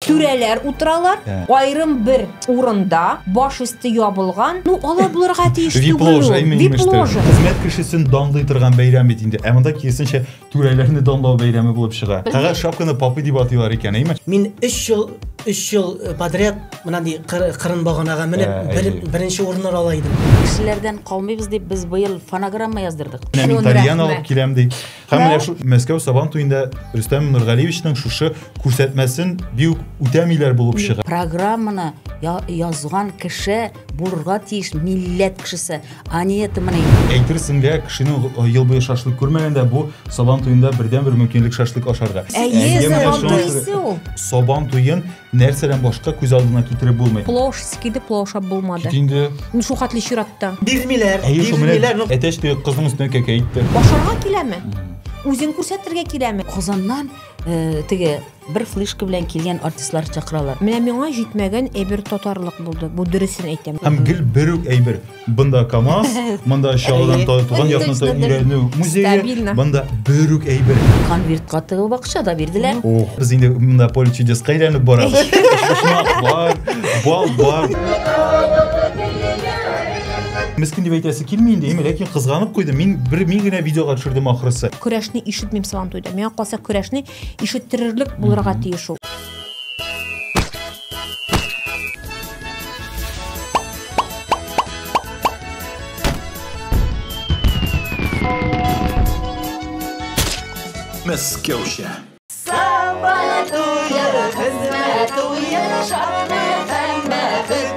Түрәләр утыралар, аерым бер урында, баш өсте ябылган. Ну, алар булырга тиеш түгел. Вип-ложа, именно что. Хезмәт кешесен данлый торган бәйрәм бит инде. Ә монда киресенчә түрәләрне данлау бәйрәме булып чыга. Кага шапканы папы дип атыйлар икән, әйме? Мин 3 ел 3 ел э, подряд мына ди кырын баганага менеп ә, бер, беренче урыннар ала идем. Кешеләрдән калмыйбыз дип без быел фонограмма яздырдык. Мин тальян алып киләм ди. Һәм менә шу Мәскәү Сабан туенда Рөстәм Нургалиевичның шушы күрсәтмәсен бик үтәмиләр булып чыга. Программаны язган кеше булырга тиеш милләт кешесе, а не это мына. Әйтерсең лә кешенең э, ел буе шашлык күрмәгәндә бу Сабан туенда бердәнбер мөмкинлек шашлык ашарга. Әйе, Сабан туен Нәрсәдән башка күз алдына китереп булмый. Плош скиды плошап булмады. Кит инде. Ну шул хәтле чиратта. Бирмиләр. Әйе, шул менә ну. әтәч теге кызның өстенә кәкә итте. Ашарга киләме? Үзен күрсәтергә киләме? Казаннан э, теге бер флешка белән килгән артистлар чакыралар. Менә миңа җитмәгән әйбер татарлык булды. Бу дөресен әйтәм. Һәм гел бер үк әйбер. Бында КАМАЗ, бында Чаллыдан туган якны өйрәнү музее, бында бөрүк әйбер. Конвертка тыгып акча да бирделәр. Ох, без инде монда поле чудес кайрәнеп барабыз. Бар, бал бар. Мискен дип әйтәсе килми инде, әмма ләкин кызганып куйдым. Мин бер мин генә видеога төшердем ахрысы. Көрәшне ишетмим сабан туйда. Миңа калса көрәшне Ишеттерерлек булырга тиеш ул. Мәскәүчә. Сабантуе, хезмәт уе, шатлык һәм бәхет.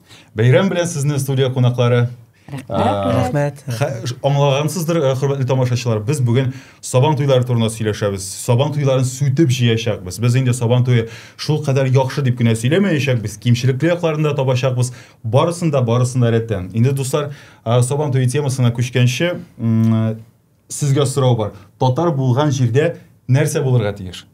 Бәйрәм белән сезне студия кунаклары. Рәхмәт. Аңлагансыздыр, э, хөрмәтле тамашачылар, без бүген Сабан туйлары турында сөйләшәбез. Сабан туйларын сүтеп җыячакбыз. Без инде Сабан туе шул кадәр яхшы дип кенә сөйләмәячәкбез, кимчелекле якларын да табачакбыз. Барысын да, барысын да рәттән. Инде дуслар, э, Сабан туе темасына күчкәнче, э, сезгә сорау бар. Татар булган җирдә нәрсә булырга тиеш?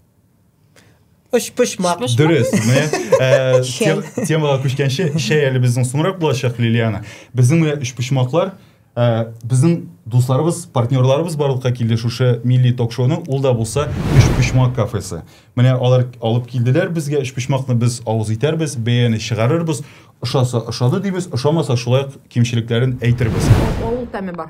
Өчпочмак. Дөрес. Менә э, тем, темага күчкәнче, шәй әле безнең соңрак булачак, Лилиана. Безнең менә өчпочмаклар э, безнең дусларыбыз, партнерларыбыз барлыкка килде шушы милли ток-шоуның, ул да булса өчпочмак кафесы. Менә алар алып килделәр безгә, өчпочмакны без авыз итәрбез, бәяне чыгарырбыз, ошаса ошады дибез, ошамаса шулай ук кимчелекләрен әйтербез. Авыл тәме бар.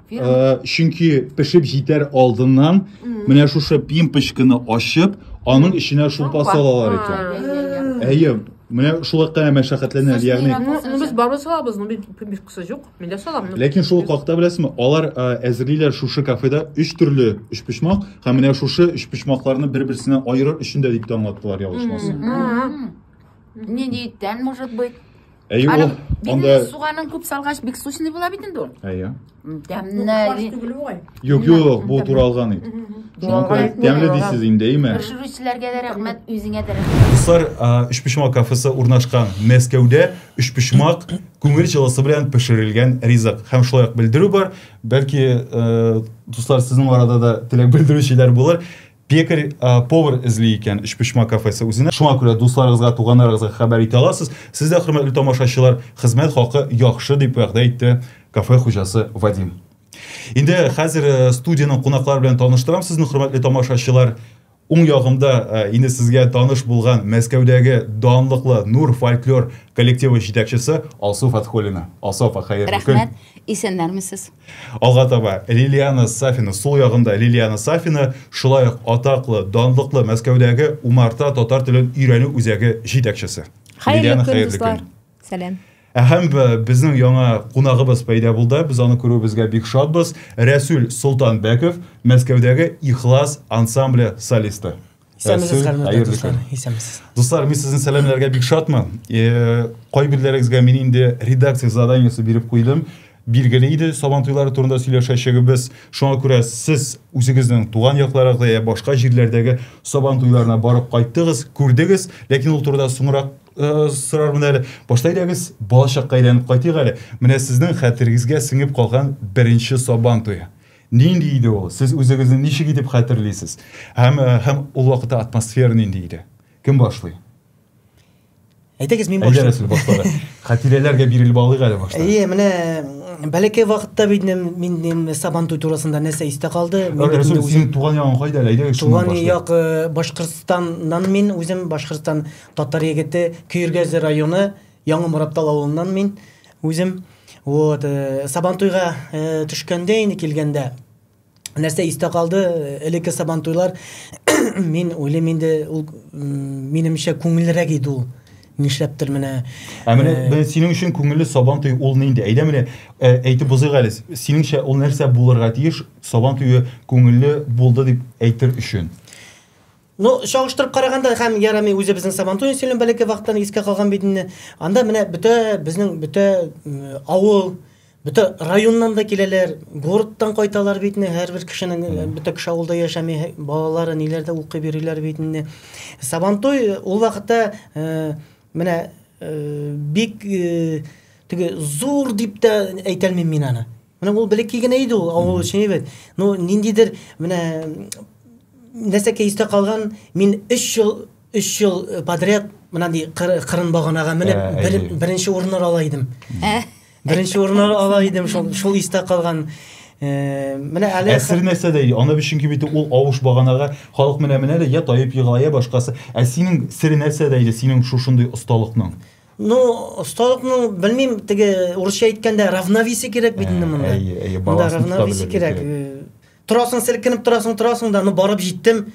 Э, чөнки пешеп җитәр алдыннан менә шушы пимпочканы ачып, аның эченә шулпа салалар икән. Әйе, менә шулай кына мәшәкатьләнә, ягъни. Ну без барыбер салабыз, ну бит пимпочкасы юк. Мин дә салам. Ләкин шул хакта беләсезме, алар э, әзерлиләр шушы кафеда өч төрле өч почмак һәм менә шушы өч почмакларны бер-берсеннән аерыр өчен дә дип тә аңлаттылар, ялгышмасам. Не диеттән, может быть. Әйе ул. Анда суганын күп салгач бик сочный була бит инде ул. Әйе. Тәмне. Юк, юк, бу туралган ит. Тәмле дисез инде, әйме? Пешерүчеләргә дә рәхмәт, үзеңә дә рәхмәт. Дуслар, Өчпочмак кафесы урнашкан Мәскәүдә Өчпочмак күңел җылысы белән пешерелгән ризык һәм шулай ук белдерү бар. Бәлки, дуслар, сезнең арада да теләк белдерүчеләр булыр. Пекарь, повар эзли икән Өчпочма кафесы үзенә. Шуңа күрә дусларыгызга, туганнарыгызга хәбәр итә аласыз. Сез дә, хөрмәтле тамашачылар, хезмәт хакы яхшы, дип вәгъдә итте кафе хуҗасы Вадим. Инде хәзер студиянең кунаклары белән таныштырам сезне, хөрмәтле тамашачылар. Уң ягымда инде сезгә таныш булган Мәскәүдәге данлыклы Нур фольклор коллективы җитәкчесе Алсу Фәтхуллина. Алсу апа, хәерле көн. Рәхмәт. Исәннәрмесез? Алга таба Лилиана Сафина, сул ягында Лилиана Сафина, шулай ук атаклы, данлыклы Мәскәүдәге Умарта татар телен өйрәнү үзәге җитәкчесе. Хәерле көн, дуслар. Сәлам. Ә һәм безнең яңа кунагыбыз пәйда булды. Без аны күрүебезгә бик шатбыз. Рәсүл Солтанбәков, Мәскәүдәге Ихлас ансамбле солисты. Исәнмесез, хөрмәтле дуслар. Исәнмесез. Дуслар, мин сезне сәламләргә бик шатмын. Э, Кайберләрегезгә мин инде редакция заданиесе биреп куйдым. Билгеле иде, сабан туйлары турында сөйләшәчәгебез. Шуңа күрә сез үзегезнең туган якларыгызда я башка җирләрдәге сабан туйларына барып кайттыгыз, күрдегез, ләкин ул турыда соңрак э, сорармын әле. Башта әйдәгез, балачакка әйләнеп кайтыйк әле. Менә сезнең хәтерегезгә сеңеп калган беренче сабан туе. Нинди иде ул? Сез үзегезне ничек итеп хәтерлисез? Һәм э, һәм ул вакытта атмосфера нинди иде? Кем башлый? Әйтегез, мин башлыйм. Әйдәгез, башлыйм. Хатирәләргә бирелеп алыйк әле башта. Әйе, менә бәләкәй вакытта бит мин мин сабан туй турасында нәрсә истә калды? Рәсүл, синең туган ягың кайда әле? Әйдәгез, шуннан башлыйк. Туган як э, Башкортстаннан мин үзем Башкортстан татар егете Көергәзе районы Яңа Мораттал авылыннан мин үзем. Вот, э, Сабантуйга э, төшкәндә инде килгәндә нәрсә истә калды? Элекке Сабантуйлар мин уйлыйм инде ул минемчә күңеллерәк иде ул. Нишләптер менә. Ә менә э, синең өчен күңелле Сабантуй ул нинди? Әйдә менә әйтеп узыйк әле. Синеңчә ул нәрсә булырга тиеш? Сабантуе күңелле булды дип әйтер өчен. Ну, чагыштырып караганда һәм ярами үзе безнең Сабантуен сөйлем бәләкәй вакыттан искә калган бит инде. Анда менә бөтә безнең бөтә авыл, бөтә районнан да киләләр, городтан кайталар бит инде. Һәрбер кешенең э, бөтә кеше авылда яшәми, балалары ниләрдә укып йөриләр бит инде. Сабантуй э, ул вакытта э, менә бик теге зур дип тә әйтәлмим мин аны. Менә ул белек кигене иде ул авыл өчен әйбәт. Ну, ниндидер менә нәрсәкә истә калган, мин 3 ел 3 ел э, подряд менә ди кырын баганага менеп ә, бер, беренче урыннар ала идем. Ә? Беренче урыннар ала идем, шул шул истә калган. Э, менә әле әсер нәрсә дә аны өчен кибите ул авыш баганага халык менә менә дә я таеп егылая башкасы ә синең сер нәрсә дә иде синең шушындый осталыкның Ну, осталыкның, белмим, теге урысча әйткәндә равновесие кирәк бит инде монда. Әйе, әйе, баланс равновесие кирәк. Торасың, селкенеп торасың, торасың да, ну барып җиттем.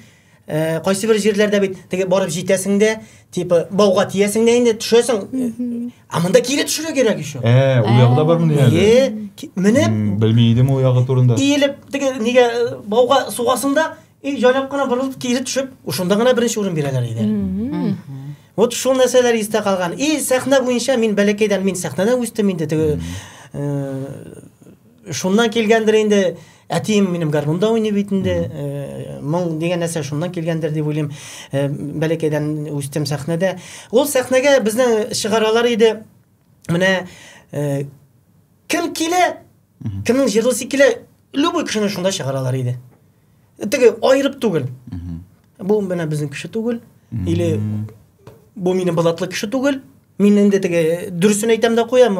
Э, кайсы бер җирләрдә бит теге барып җитәсең дә, типа бауга тиясең дә инде төшәсең. А монда кире төшәргә кирәк еще. Э, у ягы да бар мондый әле. Э, менеп, белми идем у ягы турында. Иелеп, теге нигә э, бауга сугасың да, И җайлап кына борылып кире төшеп, ушында гына беренче урын бирәләр иде. Вот шул нәрсәләр истә калган. И сәхнә буенча мин бәләкәйдән мин сәхнәдә үстем инде теге э, шуннан килгәндер инде әтием минем гармунда уйный бит инде э, моң дигән нәрсә шуннан килгәндер дип уйлыйм э, бәләкәйдән үстем сәхнәдә ул сәхнәгә безне чыгаралар иде менә э, кем килә кемнең җырлыйсы килә любой кешене шунда чыгаралар иде теге айырып түгел бу менә безнең кеше түгел или бу минем былатлы кеше түгел мин инде теге дөресен әйтәм дә куям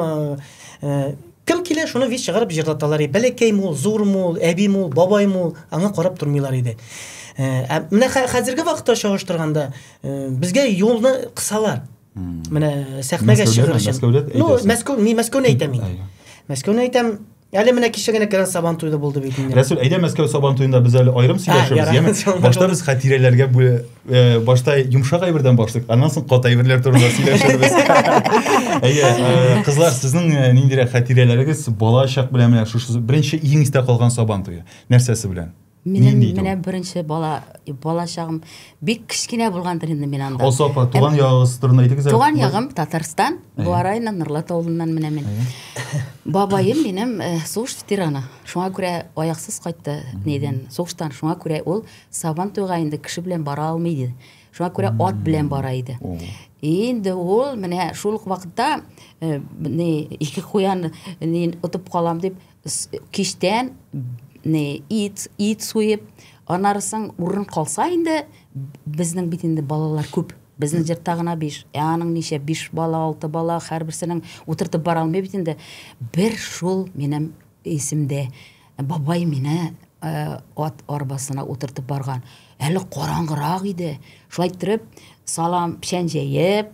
э, кем килә шуны виз чыгарып җырлаталар иде бәләкәй мул зур мул әби мул бабай мул аңа карап тормыйлар иде э, ә менә хәзерге вакытта чагыштырганда э, безгә юлны кысалар Менә сәхнәгә чыгыр өчен. Ну, Мәскәү, не Мәскәүне әйтәм мин. Мәскәүне әйтәм, Әле менә кичәгенә кирән сабан туйда булды бит инде. Рәсүл, әйдә Мәскәү сабан туйында без әле аерым сөйләшәбез, яме? Башта без хатирәләргә бу э, башта йомшак әйбердән башлык, аннан соң кат әйберләр турында сөйләшәбез. Әйе, э, кызлар, сезнең э, ниндирәк хатирәләрегез балачак белән менә шушы беренче иң истә калган сабан туе? Нәрсәсе белән? Минем Нинди менә беренче бала балачагым бик кечкенә булгандыр инде мин анда. Алсу апа, туган ягыгыз турында әйтегез. Туган ягым Татарстан, Буа районы Норлат авылыннан менә мин. Бабаем минем э, сугыш ветераны. Шуңа күрә аяксыз кайтты нидән? Сугыштан. Шуңа күрә ул Сабан туйга инде кеше белән бара алмый иде. Шуңа күрә ат белән бара иде. Инде ул менә шул ук вакытта э, не ике куян не отып калам дип кичтән ит, ит суеп, аннары соң урын калса инде, безнең бит инде балалар күп. Безнең җыртта гына 5. Ә аның ничә? 5 бала, 6 бала, һәрберсенең утыртып бара алмый бит инде. Бер шул минем исемдә бабай мине э, ат арбасына утыртып барган. Әле караңгырак иде. Шулай иттереп, салам печән җәеп,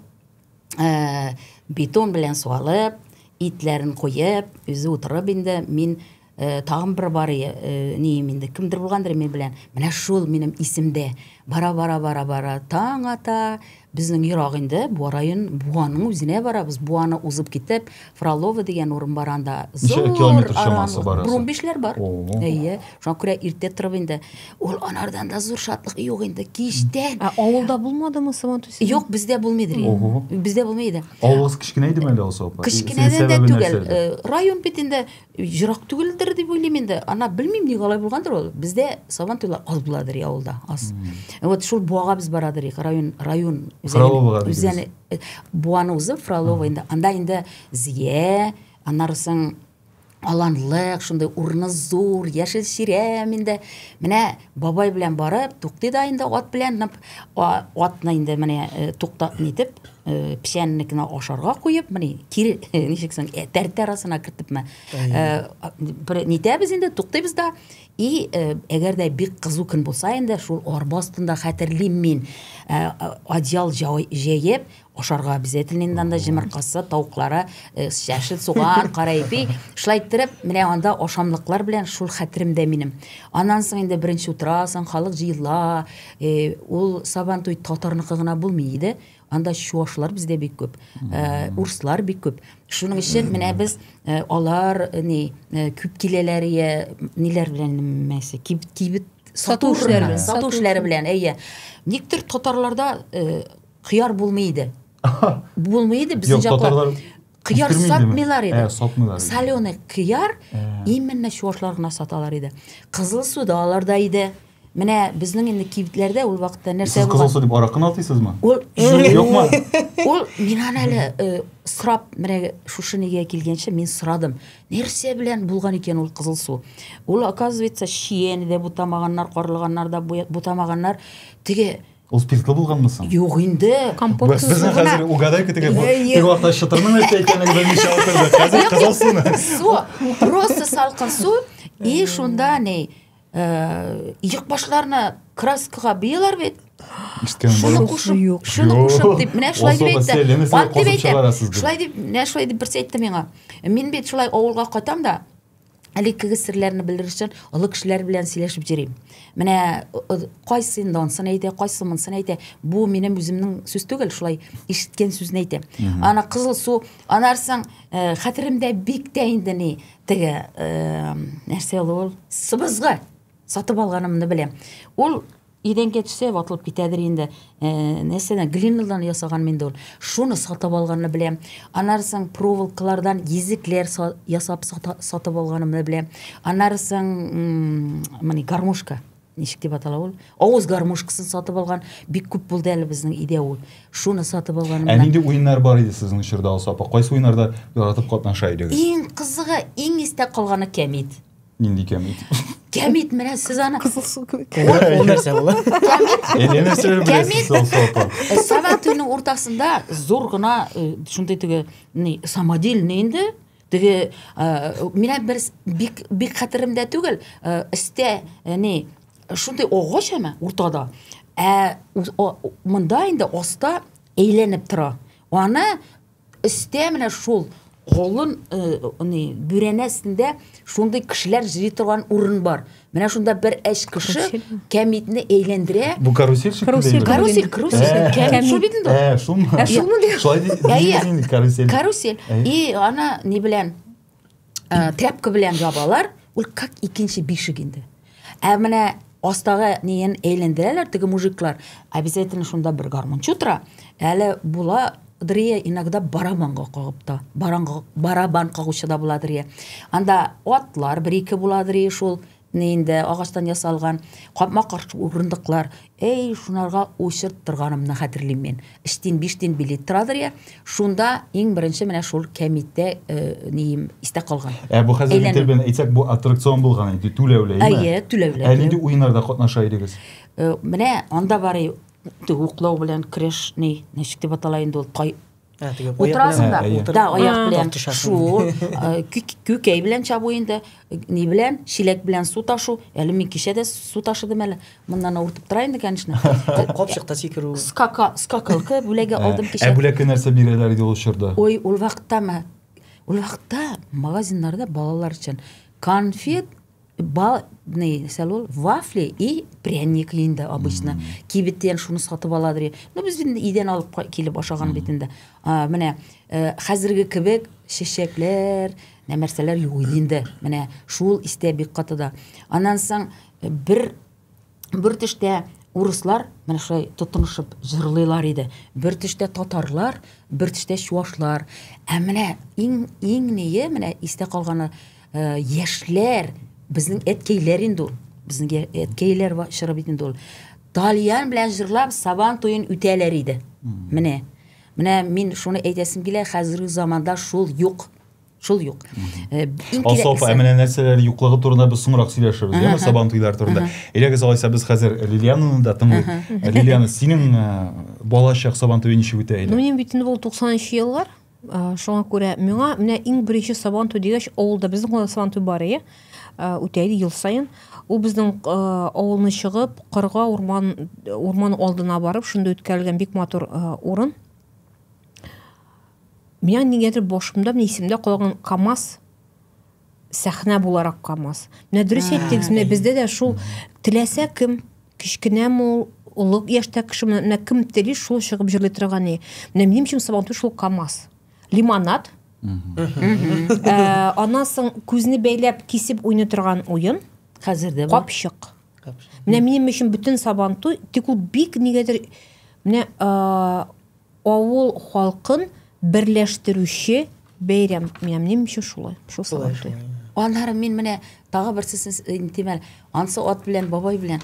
Э, бетон белән суалып, итләрен куеп, үзе утырып инде мин э, тагын бер бар э, ним инде кемдер булгандыр мин белән. Менә шул минем исемдә. Бара бара бара бара таң ата. Безнең ерак инде, бу район Буаның үзенә барабыз. Буаны узып китеп, Фролово дигән урын бар анда. Ничә километр чамасы бар? Бурун бишләр бар. Әйе. Шуңа күрә иртә торып инде ул анардан да зур шатлык юк инде. Кичтән. Ә авылда булмадымы Сабантуй? Юк, бездә булмый иде. Бездә булмый иде. Авылыгыз кечкенә идеме әле алса апа? Кечкенәдән дә түгел. Э, район бит инде Ерак түгелдер дип уйлыйм инде. Ана белмим ник алай булгандыр ул. Бездә сабан туйлар аз буладыр я авылда, аз. Вот шул буага без барадыр ик, район, район. Фроловага дигез. Э, буаны үзе Фролова инде. Анда инде зия, аннары соң аланлык, шундый урыны зур, яшел чирәм инде. Менә бабай белән барып, туктый да инде ат белән, атны инде менә э, туктатны итеп, Э, печәннекне ашарга куеп мени кире ничек соң э, тәртә арасына кертепме э, нитәбез инде туктыйбыз да и әгәр дә бик кызу көн булса инде шул арба астында хәтерлим мин одеял җәеп ашарга обязательно инде анда җомыркасы тавыклары чәшел суган кара ипи шулай иттереп менә анда ашамлыклар белән шул хәтеремдә минем аннан соң инде беренче утырасың халык җыела Ул Сабантуй татарныкы гына булмый иде. Анда чуашлар бездә бик күп, урыслар бик күп. Шуның өчен менә без алар ни күп киләләр я ниләр белән мәсе кибет сату эшләре, сату эшләре белән. Әйе. Никтер татарларда кыяр булмый иде. Булмый иде безнең җакта. кыяр сатмыйлар иде ә, сатмыйлар иде соленый кыяр ә. именно чуашлар гына саталар иде кызыл су да аларда иде менә безнең инде кибетләрдә ул вакытта нәрсә сез кызыл су дип аракыны атыйсызмы ул юкмы ул мин аны әле э, сорап менә шушы нигә килгәнче мин сорадым нәрсә белән булган икән ул кызыл су ул оказывается чиен дә бутамаганнар карлыганнар да бутамаганнар теге Ул спиртлы булганмы соң? Юк инде. Компот Без без суы гына. хәзер угадайка тегә бу Әйе. бер вакытта чытырның нәрсә икәнлеген белмичә утырдык. Хәзер кызыл суны. Су, просто салкын су, и шунда ни, э, иек башларына краскага бөяләр бит. Иштем Шуны бу. кушып, Юк. шуны Юк. кушып дип, менә шулай дип Ул әйтте. сәлле, менә Ат дип косып әйтә. чыгарасыз дип. Шулай дип, менә шулай дип берсе әйтте миңа. Мин бит шулай авылга кайтам да, элеккеге серләрне белер өчен олы кешеләр белән сөйләшеп йөрим. Менә кайсы инде ансын әйтә, кайсы монсын әйтә. Бу минем үземнең сүз түгел, шулай ишеткән сүзне әйтәм. Ана кызыл су, анарсың э, хәтеремдә бик тә инде ни теге э, нәрсә ул? Сыбызгы сатып алганымны беләм. Ул Идән кәчесе ватылып китәдер инде. Нәрсәдән? Глиннадан ясаганмы инде ул? Шуны сатып алганны беләм. Аннары соң проволокалардан йөзекләр ясап сатып алганымны беләм. Аннары соң моны гармошка ничек дип атала ул? Авыз гармошкасын сатып алган бик күп булды әле безнең өйдә ул. Шуны сатып алганнан. Ә нинди уеннар бар иде сезнең чорда Алсу апа? Кайсы уеннарда яратып катнаша идегез? Иң кызыгы, иң истә калганы кәмит. нинди кәмит кәмит менә сіз аны кызыл су кебек ол нәрсә була әне нәрсәләр беләсез ул сорапа сабан туйның уртасында зур гына шундый теге ни самодельный инде теге менә бер бик бик хәтеремдә түгел өстә ни шундый агач әмә уртада ә монда инде аста әйләнеп тора аны Өстә менә шул колын аны бүрәнә өстендә шундый кешеләр җыри торган урын бар. Менә шунда бер әч кеше кәмитне әйләндерә. Бу карусель шикелле. Карусель, карусель. Кәмит шул бит инде. Ә, шулмы? Ә шулмы? Шулай ди. Карусель. И ана ни белән? ә, тряпка белән ябалар ул как икенче бишек инде ә менә астагы неен әйләндерәләр теге мужиклар обязательно шунда бер гармунчы утыра әле була Дрия иногда барабанга кагып та, барабан кагучы да була Дрия. Анда атлар бер-ике була Дрия шул Менә инде агачтан ясалган капма-каршы урындыклар. Әй, шунарга очырт торганымны хәтерлим мин. Өч тин, биш тин билет торадыр я. Шунда иң беренче менә шул кәмитә э, нием истә калган. Ә бу хәзер Әйләнү. белән әйтсәк, бу аттракцион булган иде, түләүле, әйме? Әйе, түләүле. Ә нинди уеннарда катнаша идегез? Э, Менә анда бар и- уклау белән көрәш ни, ничек дип атала инде ул, тай, Утырасың да, да, аяк белән шу, күкәй белән чабу инде, ни белән, чиләк белән су ташу, әле мин кичә дә су ташыдым әле, моннан авыртып тора инде, конечно. Капчыкта сикерү. Скака, скакалка бүләге алдым кичә. Ә бүләккә нәрсә бирәләр иде ул чорда? Ой, ул вакытта ма, ул вакытта магазиннарда балалар өчен конфет, балный нәрсә ул вафли и пряник инде обычно mm -hmm. кибеттен шуны сатып аладыр e, ну без инде идән алып килеп ашаган бит инде менә э, хәзерге кебек чәчәкләр нәрсәләр юк инде менә шул истә бик каты да аннан соң э, бер бер төштә урыслар менә шулай тотынышып җырлыйлар иде. Бер төштә татарлар, бер төштә чуашлар. Ә менә иң иң ние менә истә калганы э, яшьләр, безнең әткәйләр инде ул. Безнең әткәйләр чоры бит инде ул. Тальян белән җырлап Сабан туен үтәләр иде. Менә. Менә мин шуны әйтәсем килә, хәзерге заманда шул юк. Шул юк. Э, иң кирәклесе. Асофа, ә менә нәрсәләр юклыгы турында без соңрак сөйләшербез, яме сабан туйлар турында. Элегез алайса без хәзер Лилиананы да тыңлыйк. Э, Лилиана, синең э, балачак сабан туе ничек үтә иде? Минем бит инде бул 93 еллар. Шуңа күрә миңа менә иң беренче сабан туй дигәч, авылда безнең кулда сабан туй бар иде. Үтә иде ел саен. Ул безнең авылны чыгып, кырга, урман, урман алдына барып, шунда үткәрелгән бик матур урын. Миңа нигәдер башымда менә исемдә калган КАМАЗ сәхнә буларак КАМАЗ. Менә дөрес әйттегез, менә бездә дә шул теләсә кем, кечкенәме ул, олы яшьтә кеше, менә кем тели, шул чыгып җырлый торган ни. Менә минем өчен Сабантуй шул КАМАЗ. Лимонад. Э, аннан соң күзне бәйләп кисеп уйный торган уен. Хәзер дә бар. Капчык. Менә минем өчен бөтен Сабантуй, тик ул бик нигәдер менә э, Авыл халкын берләштерүче бәйрәм. Менә минем өчен шулай. Шул сәбәпле. Аннары мин менә тагы берсесен әйтим әле. Ансы ат белән, бабай белән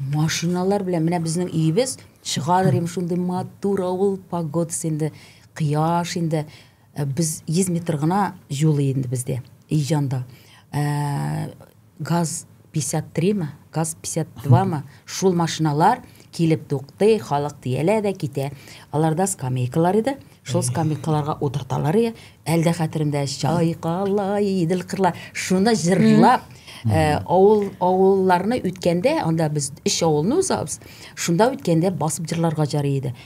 машиналар белән менә безнең өебез чыгалыр иде шундый матур авыл погодасы инде, кояш инде. Э, без 100 метр гына юл инде бездә, Иҗанда. Э, газ 53 ме, газ 52 ме, шул машиналар килеп туктый, халык диялә дә китә. Аларда скамейкалар иде. Шул скамейкаларга утырталар иде. Әлдә хәтеремдә чайкала идел кырла. Шуны җырлап, э, авыл авылларны үткәндә, анда без өч авылны узабыз. Шунда үткәндә басып җырларга җары иде.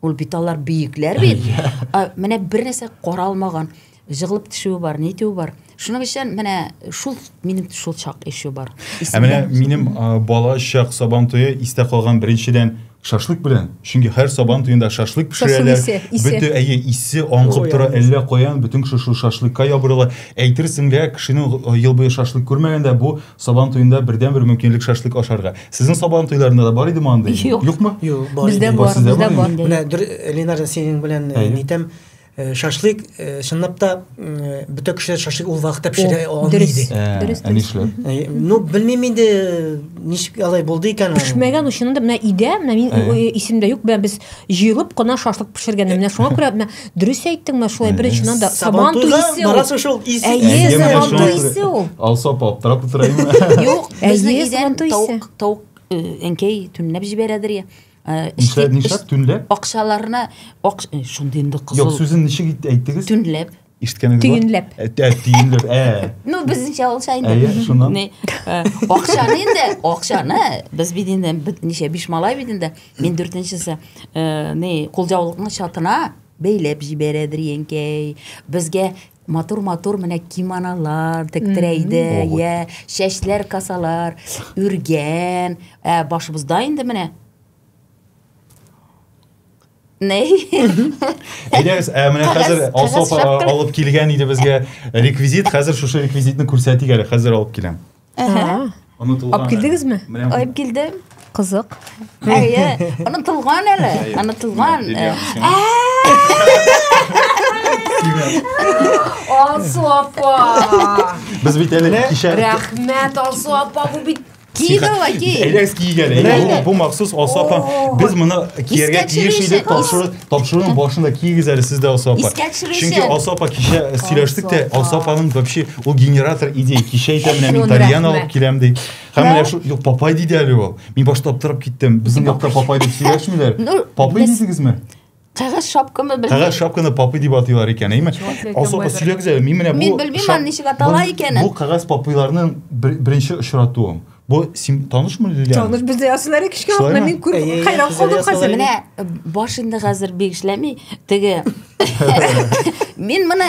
Ул бит алар бөекләр бит. Менә бер нәрсә каралмаган, җыгылып төшүе бар, нитүе бар. Шуның өчен менә шул минем шул чак ише бар. Ә менә минем бала чак сабан туе истә калган беренчедән шашлык белән. Чөнки һәр сабан туенда шашлык пешерәләр. Бөтен әйе исе аңгып тора, әллә каян бөтен кеше шул шашлыкка ябырыла. Әйтерсең лә кешенең ел буе шашлык күрмәгәндә бу Сабан туенда бердән бер мөмкинлек шашлык ашарга. Сезнең сабан туйларында да бар иде андый? Юк. Юкмы? Юк, бар. Бездә бар, бар, сездә бар. Менә дөрес Ленар синең белән э, нитәм э, шашлык э, чынлап та бөтә кешеләр шашлык ул вакытта пешерә алмый иде. Дөрес. Ә нишләп? Ну, белмим инде ничек алай булды икән. Пешмәгән өчен дә менә идә, менә мин исемдә юк, без Җыелып кына шашлык пешергәннәр. Менә шуңа күрә менә дөрес әйттең менә шулай беренчедән да сабан туй исе. Барасы шул исе. Әйе, сабан туй исе ул. Алса аптырап утыра инде. Юк, безнең идән тавык, тавык әнкәй төнләп җибәрәдер я. Нишләп, нишләп төнләп? Акчаларына, шундый инде кызыл. Юк, сүзен ничек әйттегез? Төнләп. ишеткәнегез бар төйенләп төйенләп ә ну безнеңчә булса инде әйе шуннан акчаны инде акчаны без бит инде ничә биш малай бит инде мин дүртенчесе не кулҗаулыкның чатына бәйләп җибәрә дренькәй безгә матур матур менә кимоналар тектирә иде йә чәчләр касалар үргән ә башыбызда инде менә Ней. Әйдәгез, ә менә хәзер Алсоф алып килгән иде безгә реквизит. Хәзер шушы реквизитны күрсәтик әле. Хәзер алып киләм. Әһә. Онытылган. Алып килдегезме? Алып килдем. Кызык. Әйе, онытылган әле. Онытылган. Алсу апа. Без бит әле кичә. Рәхмәт Алсу апа, бу бит Киегә ла ки. Әйдәгез киегә дә. Менә бу махсус Алсу апа. Без моны киергә тиеш иде. Тапшыру тапшыруның башында киегез әле сез дә Алсу апа. Чөнки Алсу апа кичә сөйләштек тә Алсу апаның вообще ул генератор идея. Кичә әйтә менә мин тальян алып киләм ди. Һәм менә шул юк папай диде әле ул. Мин башта аптырап киттем. Безнең якта папай дип сөйләшмиләр. Папай дидегезме? Кәгазь шапкамы белмим. Кәгазь шапканы папы дип атыйлар икән, әйме? Асылга сөйләгез әле, мин менә бу Мин белмим аны ничек атала икәнен. Бу кәгазь папыйларның беренче очратуым. Бу син танышмы Лилия? Таныш бездә ясылар кичке вакытта мин күр хайран калдым хәзер. Менә баш инде хәзер бик эшләми. Теге Мин моны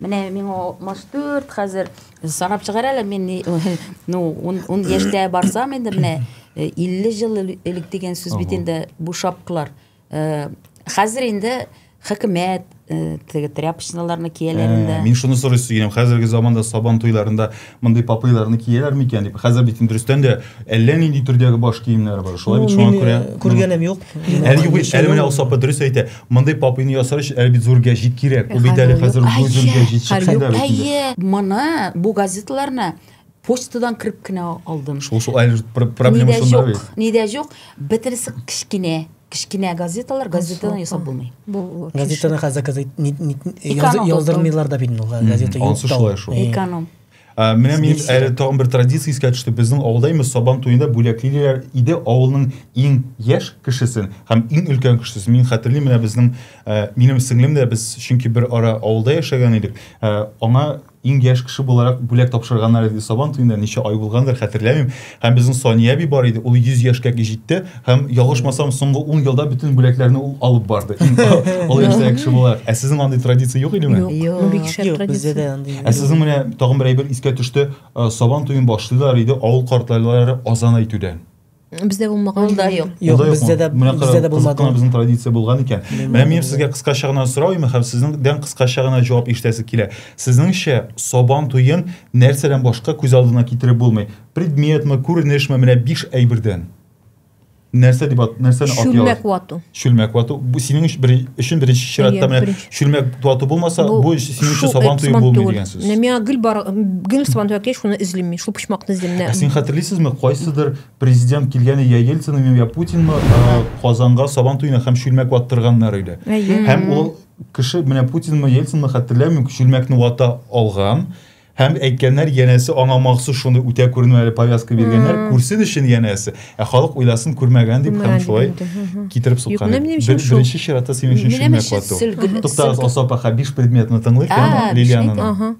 Менә миңа 64 хәзер. Санап чыгар әле мин ни- ну, ун, ун яшьтә барсам инде менә э, 50 ел эле- элек дигән сүз бит инде бу шапкалар. Э, Хәзер инде хөкүмәт э, теге тряпочналарны кияләр Ә, инде. Мин шуны сорыйсы киләм. Хәзерге заманда Сабан туйларында мондый папыйларны кияләр микән дип хәзер бит дөрестән дә әллә нинди төрдәге баш киемнәр бар шулай бит шуңа күрә э, күргәнем юк әле юк әле менә ул сапы дөрес әйтә мондый папыйны ясар өчен әле бит зур гәҗит кирәк ул бит әле хәзер зур гәҗит чыкса да әйе моны бу газеталарны почтадан кереп кенә алдым шул шул әле проблема шунда бит ни дә юк бөтенесе кечкенә Кечкенә газеталар, газетаны ясап булмый. Газетаны хәзер газет яздырмыйлар да бит ул газета юк. Ансы шулай шул. Эконом. Ә, менә мин әле тагын бер традиция искә төште. Безнең авылда именно сабан туенда бүләклиләр иде авылның иң яшь кешесен һәм иң өлкән кешесен. Мин хәтерлим, менә безнең ә, минем сеңлем дә без чөнки бер ара авылда яшәгән идек. Ә, аңа Иң яшь кеше буларак бүләк тапшырганнар иде Сабан туенда, ничә ай булгандыр, хәтерләмим. Һәм безнең Сания әби бар иде, ул 100 яшькә җитте һәм, ялгышмасам, соңгы ун елда бөтен бүләкләрне ул алып барды. Олы яшьтәге кеше буларак. Ә сезнең андый традиция юк идеме? Юк, бу бик шәп традиция. Ә сезнең менә тагын бер әйбер искә төште, Сабан туен башлыйлар иде авыл картлайлары азан әйтүдән. Бездә булмаган. Ул да юк. Юк, бездә дә бездә дә булмады. Менә безнең традиция булган икән. Менә мин сезгә кыскача гына сорау имем һәм сезнеңдән кыскача гына җавап ишетәсе килә. Сезнеңчә, Сабан туен нәрсәдән башка күз алдына китереп булмый? Предметмы, күренешме, менә биш әйбердән. Нәрсә дип нәрсәне атыйлар? Чүлмәк вату. чүлмәк вату бу синең өчен бер өчен беренче чиратта менә чүлмәк вату булмаса бу, бу синең өчен сабан туе булмый дигән сүз менә миңа гел бар гел сабан туе әкелә шуны эзлим мин шул почмакны эзлим менә ә син хәтерлисезме кайсыдыр президент килгәне я ельцинмы я путинмы казанга сабан туена һәм чүлмәк ваттырганнар иде һәм ул кеше менә путинмы ельцинмы хәтерләмим чүлмәкне вата алган Һәм әйткәннәр, янәсе аңа махсус шуны үтә күренү әле повязка биргәннәр, күрсен өчен янәсе. Ә халык уйласын күрмәгән дип һәм шулай китереп суккан. Беренче чиратта синең өчен шимә кату. Туктагыз, Асап аха, биш предметны тыңлыйк, һәм Лилиананы.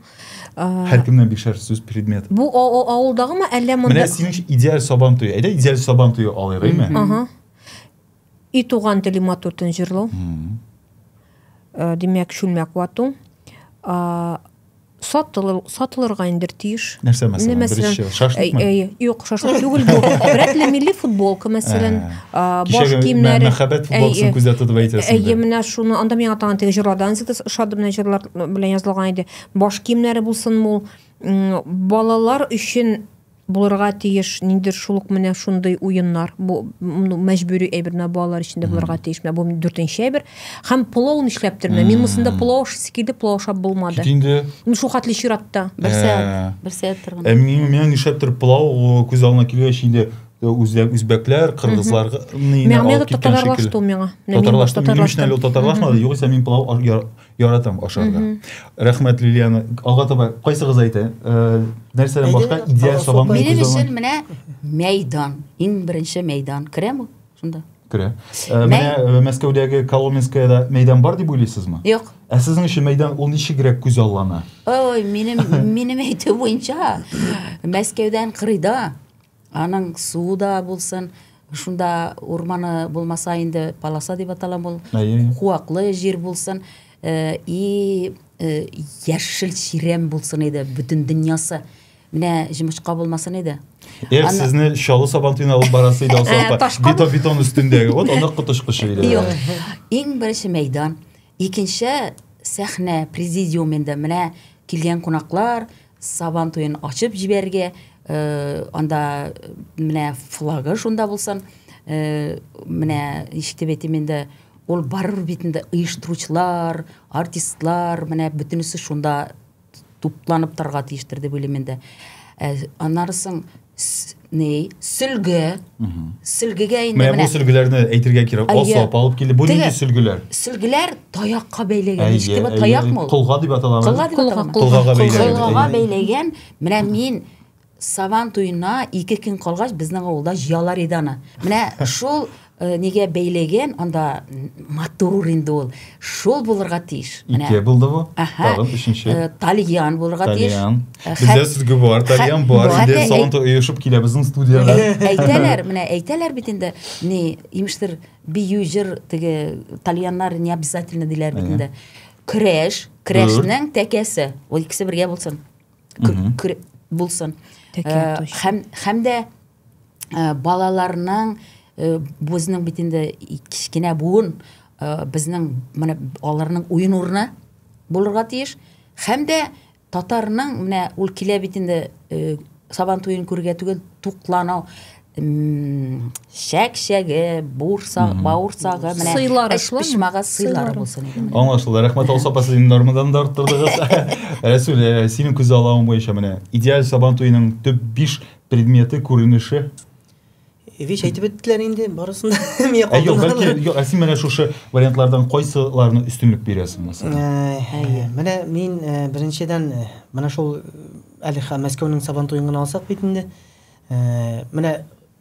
Һәр кемнән бишәр сүз предмет. Бу авылдагымы, әллә монда? Менә синең идеаль сабан туе. Әйдә, идеаль сабан туе алыйк, әйме? И туган телем матуртын җырлау. Э, димәк, шүлмәк вату. Сатылыр, сатылырга индер тиеш. Нәрсә мәсәлән? Беренче шашлыкмы? Э, э, юк, шашлык түгел бу. Рәтле милли футболка мәсәлән, баш киемнәре. Мәхәббәт футболкасын күздә тотып әйтәсең. Әйе, менә шуны анда миңа тагын теге җырлардан зикс ошады менә җырлар белән язылган иде. Баш киемнәре булсын мул. Балалар өчен булырга тиеш ниндидер шул ук менә шундый уеннар бу мәҗбүри әйбер менә балалар өчен дә булырга тиеш менә бу дүртенче әйбер һәм пылау нишләптер менә мин монысында пылау ашыйсы килде пылау ашап булмады инде ну шул хәтле чиратта бер сәгать бер сәгать торган ә миңа нишләптер пылау күз алдына килгәч инде үзбәк үзбәкләр кыргызлар миңа татарлашты миңа татарлашты мин өчен әле татарлашмады югыйсә мин пылау Яратам ашарга. Рәхмәт, Лилияна. Алга таба кайсыгыз әйтә? Э, нәрсәдән башка идеаль сабан Минем өчен менә мәйдан. Иң беренче мәйдан. Керәме шунда? Керә. Э, менә э, Мәскәүдәге Коломенскоеда мәйдан бар дип уйлыйсызмы? Юк. Ә сезнең өчен мәйдан ул ничегрәк күз аллана? Ой, минем минем әйтү буенча Мәскәүдән кырыйда Аның суы да булсын, шунда урманы булмаса инде полоса дип аталам ул. Куаклы җир булсын. И яшел чирәм булсын иде бөтен дөньясы. Менә җимычка булмасын иде. Эх, сезне Чаллы Сабантуена алып барасы иде Алсалапа. Бетон бетон өстендәге. Вот аны котышкычы иде. Юк. Иң беренче мәйдан, икенче сәхнә, президиум инде. Менә килгән кунаклар, Сабан туен ачып җибәрергә, э, анда менә флагы шунда булсын. Э, менә ишетеп әйтим инде, ул барыр бит инде оештыручылар, артистлар, менә бөтенесе шунда тупланып торырга тиештер дип уйлыйм инде. Э, аннары соң ни сөлге сөлгегә инде менә бу сөлгеләрне әйтергә кирәк осап алып килде бу нинди сөлгеләр сөлгеләр таякка бәйләгән нечкеме таякмы ул колга дип атала колга дип атала колгага бәйләгән колгага бәйләгән менә мин сабан туена ике көн калгач безнең авылда җыялар иде аны менә шул Э, нигә бәйләгән анда матур инде ул шул булырга тиеш менә ике булды бу тагын өченче э, тальян булырга тиеш тальян э, бездә сүзге бар тальян бар инде салонда оешып килә безнең студияга әйтәләр менә әйтәләр бит инде ни имештер бию җыр теге тальяннар не обязательно диләр бит инде көрәш көрәшнең тәкәсе ул икесе бергә булсын булсын һәм һәм дә балаларның безнең бит инде кечкенә буын безнең менә аларның уен урыны булырга тиеш һәм дә татарның менә ул килә бит инде сабан туен күрергә түгел туклану чәкчәге, бурсак, бауырсагы, менә сыйлар пешмага сыйлар булсын иде. Аңлашылды. Рәхмәт алса апа сезнең нормадан да арттырдыгыз. Рәсүл, э, синең күз аллавың буенча менә идеаль сабан туеның төп 5 предметы күренеше Вич әйтеп беттеләр инде барысын да мия калдым. Юк, бәлки юк, ә син менә шушы вариантлардан кайсыларны өстенлек бирәсең мәсәлән? Әйе. Менә мин э, беренчедән э, менә шул әле Мәскәүнең Сабантуен гына алсак бит инде. э, менә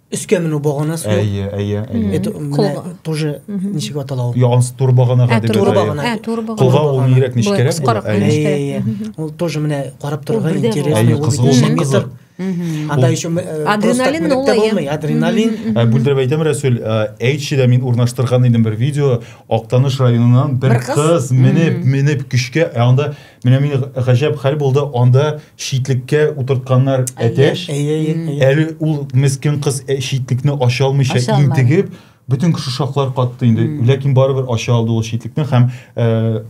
өскә менү баганасы әйе әйе әйе менә тоже ничек атала ул янс тур баганага ә, дип тур багана ә, кулга ул нирәк нечкәрәк була әйе ул тоже менә карап торырга интересный кызыл кызыл анда еще э, адреналин булмый адреналин ә, бүлдереп әйтәм рәсүл ә, әйтчедә мин урнаштырган идем бер видео актаныш районыннан бер кыз менеп менеп көчкә ә анда Менә мин гаҗәп хәл булды, анда читлеккә утыртканнар әтәч. Әле ул мескен кыз э, читлекне ача алмыйча интегеп, бөтен кеше шаклар катты инде. Ләкин барыбер ача алды ул читлекне һәм э,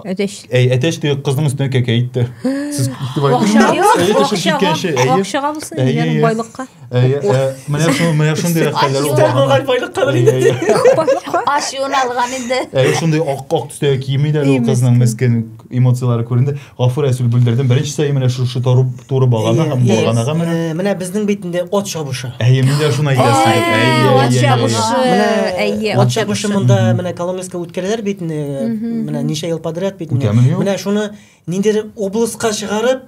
Әтәч. Әй, әтәч теге кызның үстенә кәкә итте. Сез итеп айтыңыз. Акчага булсын, байлыкка. менә шул менә шундый рәхәтләр булган байлык кадәр инде ачуын алган инде әйе шундый ак ак төстә кием иде әле ул кызның мескен эмоцияләре күренде гафу рәсүл бүлдердем беренче сәй менә шушы туры туры багана һәм баганага менә менә безнең бит инде от чабышы әйе мин дә шуны әйтәсе идем әйе от чабышы әйе от чабышы монда менә коломенскка үткәрәләр бит менә ничә ел подряд бит менә шуны ниндидер облыска чыгарып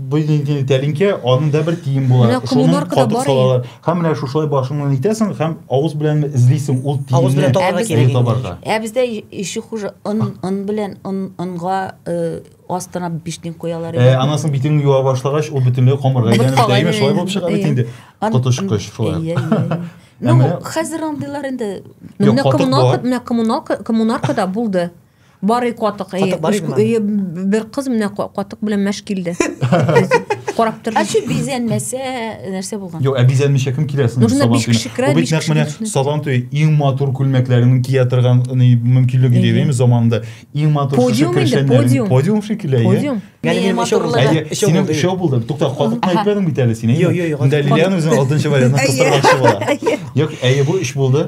Бу инде тәлинкә, аның да бер тиен була. Менә коммунаркада бар салалар. Һәм менә шушылай башыңнан итәсең һәм авыз белән эзлисең ул тиенне. Авыз белән табарга кирәк табарга. Ә бездә ише хуже ын ын белән ын ынга астына бишнин куялар иде. Анасын битен юа башлагач, ул бөтенләй камырга әйләнеп тәйме шулай булып чыга бит инде. Коточкыч шулай. Ну, хәзер андыйлар инде. Менә коммуналка, менә коммуналка, коммунаркада булды. Барый катык. Катык бар идеме? Бер кыз менә катык белән мәш килде. Карап торды. Ачы бизәнмәсә, нәрсә булган? Юк, ә бизәнмичә кем килә соң? Нужно биш кеше керә, биш кеше. Менә Сабан туе иң матур күлмәкләрен кия торган мөмкинлеге дигән заманда иң матур шушы кешеләрнең подиум шикелле, подиум. Ягъни мин шоу булды. Синең шоу булды. Тукта, катык әйтмәдең бит әле син. Юк, юк, юк. Дәлилән үзен алтынчы вариантны кыстырмакчы була. Юк, әйе бу эш булды.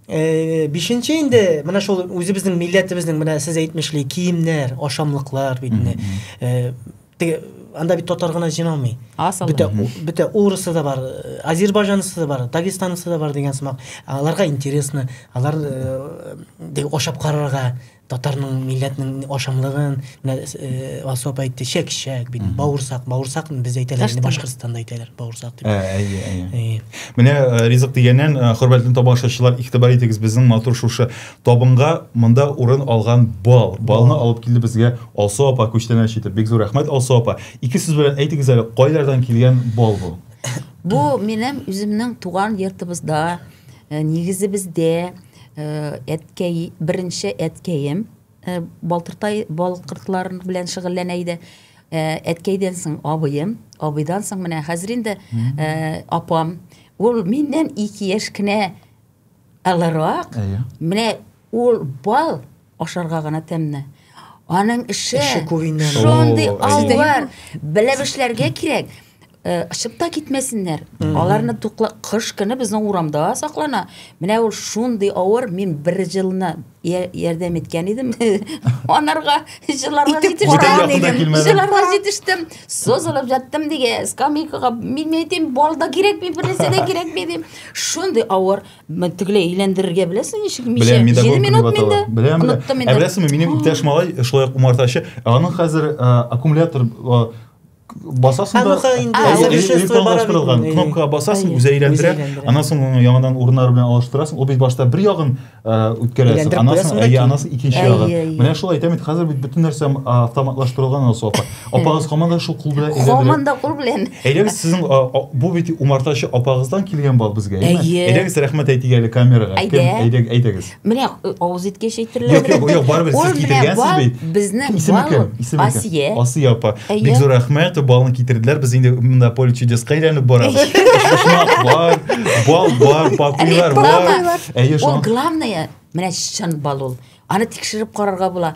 Э, бишенче инде менә шул үзебезнең милләтебезнең менә сез әйтмешли киемнәр, ашамлыклар бит инде. Э, теге анда бит татар гына җыйналмый. Бөтә бөтә урысы да бар, э, азербайҗанысы да бар, дагестанысы да бар дигән сымак. Аларга интересно, алар э, ашап карарга Татарның милләтнең ашамлыгын менә э, Алсу апа әйтте, чәкчәк, бит, бауырсак, бауырсак без әйтәләр, инде Башкортстанда әйтәләр, бауырсак дип. Ә, әйе, әйе. Әйе. Менә э, ризык дигәннән, э, хөрмәтле тамашачылар, игътибар итегез безнең матур шушы табынга монда урын алган бал. Балны алып килде безгә Алсу апа күчтәнәч итеп. Бик зур рәхмәт Алсу апа. Ике сүз белән әйтегез әле, кайлардан килгән бал бу? Бу минем үземнең туган йортыбызда, э, нигезебездә, Әткәй, беренче әткәем Балтыртай балкыртлар белән шөгыльләнә иде. Әткәйдән соң абыем, абыйдан соң менә хәзер инде апам. Ул миннән ике яшь кенә алырак. Менә ул бал ашарга гына тәмне. Аның эше, эше күренә. Шундый аллар, белеп эшләргә кирәк. Э, Шып та китмәсеннәр. Аларны тукла кыш көне безнең урамда саклана. Менә ул шундый авыр, мин бер җылына ярдәм иткән идем. Анарга җыларга җитештем. Җыларга җитештем. Созылып жаттым диге, скамейкага, мин әйтим, балда кирәкми, бернәрсә дә кирәкми дим. Шундый авыр. тегеләй әйләндерергә беләсең ничек мичә җиде минут миндә беләм оныттым инде ә беләсеңме минем иптәш малай шулай ук умартачы аның хәзер аккумулятор басасың да электрон кнопкага басасың үзе әйләндерә аннан соң аны яңадан урыннары белән алыштырасың ул бит башта бер ягын үткәрәсең аннан соң әйе аннан соң икенче ягын менә шулай әйтәм бит хәзер бит бөтен нәрсә автоматлаштырылган анау софа Апагыз һаман да шул кул белән әйләндерә. Һаман да кул белән. Әйдәгез сезнең бу бит умартачы апагыздан килгән бал безгә, әйме? Әйдәгез рәхмәт әйтик әле камерага. Әйдәгез, әйдәгез. Менә э, авыз иткәч әйтерләр. Юк, юк, юк, барыбер сез китергәнсез бит. Безнең исеме кем? Исеме Асия. Асия апа. Бик зур рәхмәт, балны китерделәр. Без инде монда поле чудеска әйләнеп барабыз. Шушмак бар, бал бар, папуйлар бар. Әйе, шул. Ул главное, менә чын бал ул. Аны тикшереп карарга була.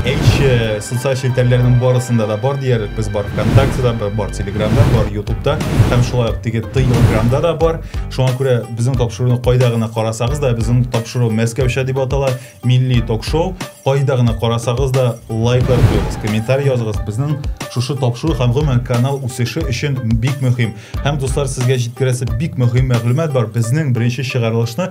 Әйше, социаль челтәрләрнең барысында да бар диярлек. Без бар ВКонтактеда, бар Телеграмда, бар Ютубта һәм шулай ук теге Телеграмда да бар. Шуңа күрә безнең тапшыруны кайда гына карасагыз да, безнең тапшыру Мәскәүчә дип атала, милли ток-шоу. Кайда гына карасагыз да, лайклар куегыз, комментарий языгыз. Безнең шушы тапшыру һәм гомумән канал үсеше өчен бик мөһим. Һәм дуслар, сезгә җиткерәсе бик мөһим мәгълүмат бар. Безнең беренче чыгарылышны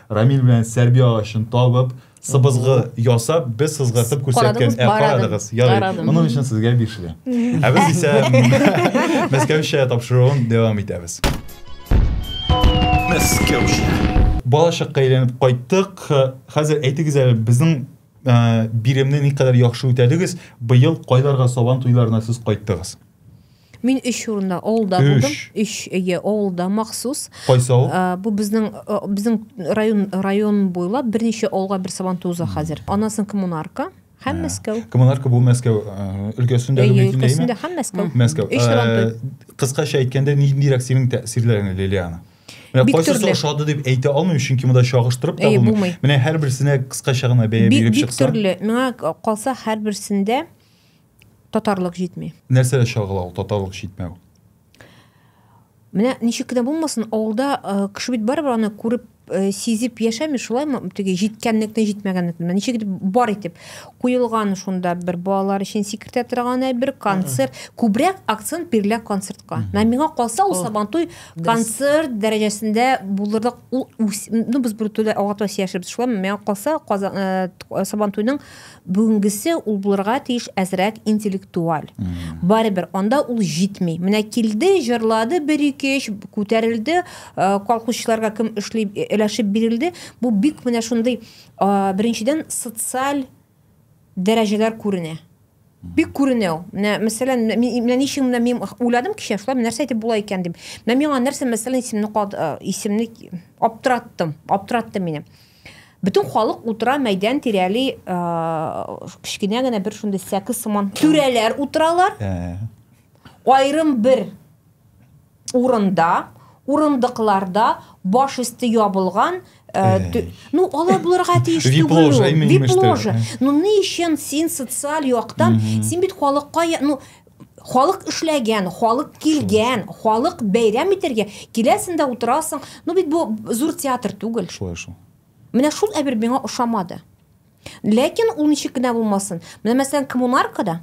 Рамил белән сәрби агачын табып, сыбызгы ясап, без сызгыртып күрсәткән. Ә карадыгыз, ярый. Моның өчен сезгә бишле. Ә без исә Мәскәүчә тапшыруын дәвам итәбез. Мәскәүчә. Балачакка әйләнеп кайттык. Хәзер әйтегез әле, безнең биремне никадәр яхшы үтәдегез? Быел кайларга сабан туйларына сез кайттыгыз? Мин өч урында авылда Өч. булдым. Өч әйе авылда махсус. Кайсы авыл? Ә, Бу безнең ә, безнең район район буйлап берничә авылга бер сабантуй уза хәзер. Анасын коммунарка һәм Мәскәү. Коммунарка бу Мәскәү э, өлкәсендә Әйе, мөмкин өлкәсендә дәйме? һәм Мәскәү. Мәскәү. Өч сабантуй. Э, Кыскача әйткәндә, ниндирәк синең тәэсирләрең, Лилиана? Менә Бик кайсысы төрле. ошады дип әйтә алмыйм, чөнки монда чагыштырып та Әйе, булмый. булмый. Менә һәрберсенә кыскача гына бәя Бик, биреп бик чыксаң. төрле. Миңа калса һәрберсендә Татарлык җитми. Нәрсә чагыла ул татарлык җитмәү? Менә ничек кенә булмасын, авылда э, кеше бит барыбер аны күреп э, сизеп яшәми, шулаймы? Теге җиткәнлекне, җитмәгәнлекне. Менә Ничек итеп бар итеп куелган шунда бер балалар өчен сикертә торган әйбер концерт. Күбрәк акцент бирелә концертка. Менә миңа калса ул Сабантуй концерт дәрәҗәсендә булырлык ул үс- ну без бер төрле алга таба сөйләшербез. Шулаймы? Миңа калса Казан э, Сабантуйның Бүгенгесе ул булырга тиеш әзрәк интеллектуаль. Барыбер анда ул җитми. Менә килде, җырлады бер ике өч, күтәрелде, э, колхозчыларга кем эшли э, өләшеп бирелде. Бу бик менә шундый э, беренчедән социаль дәрәҗәләр күренә. Бик күренә ул. Менә мәсәлән, менә ми- менә ничек менә мин уйладым кичә, шулай нәрсә әйтеп була икән дип. Менә миңа нәрсә мәсәлән исемне кал- э, исемне аптыраттым, аптыратты мине. Бөтен халык утыра мәйдан тирәли кечкенә генә бер шундый сәке сыман түрәләр утыралар. Айрым бер урында, урындыкларда баш өсте ябылган ну алай булырга тиеш түгел ул вип ложа ну ни өчен син социаль яктан син бит халыкка ну халык эшләгән, халык килгән, халык бәйрәм итәргә, киләсең дә утырасың. Ну бит бу зур театр түгел. Шулай шул. Менә шул әбер миңа ошамады. Ләкин ул ничек кенә булмасын. Менә мәсәлән коммунаркада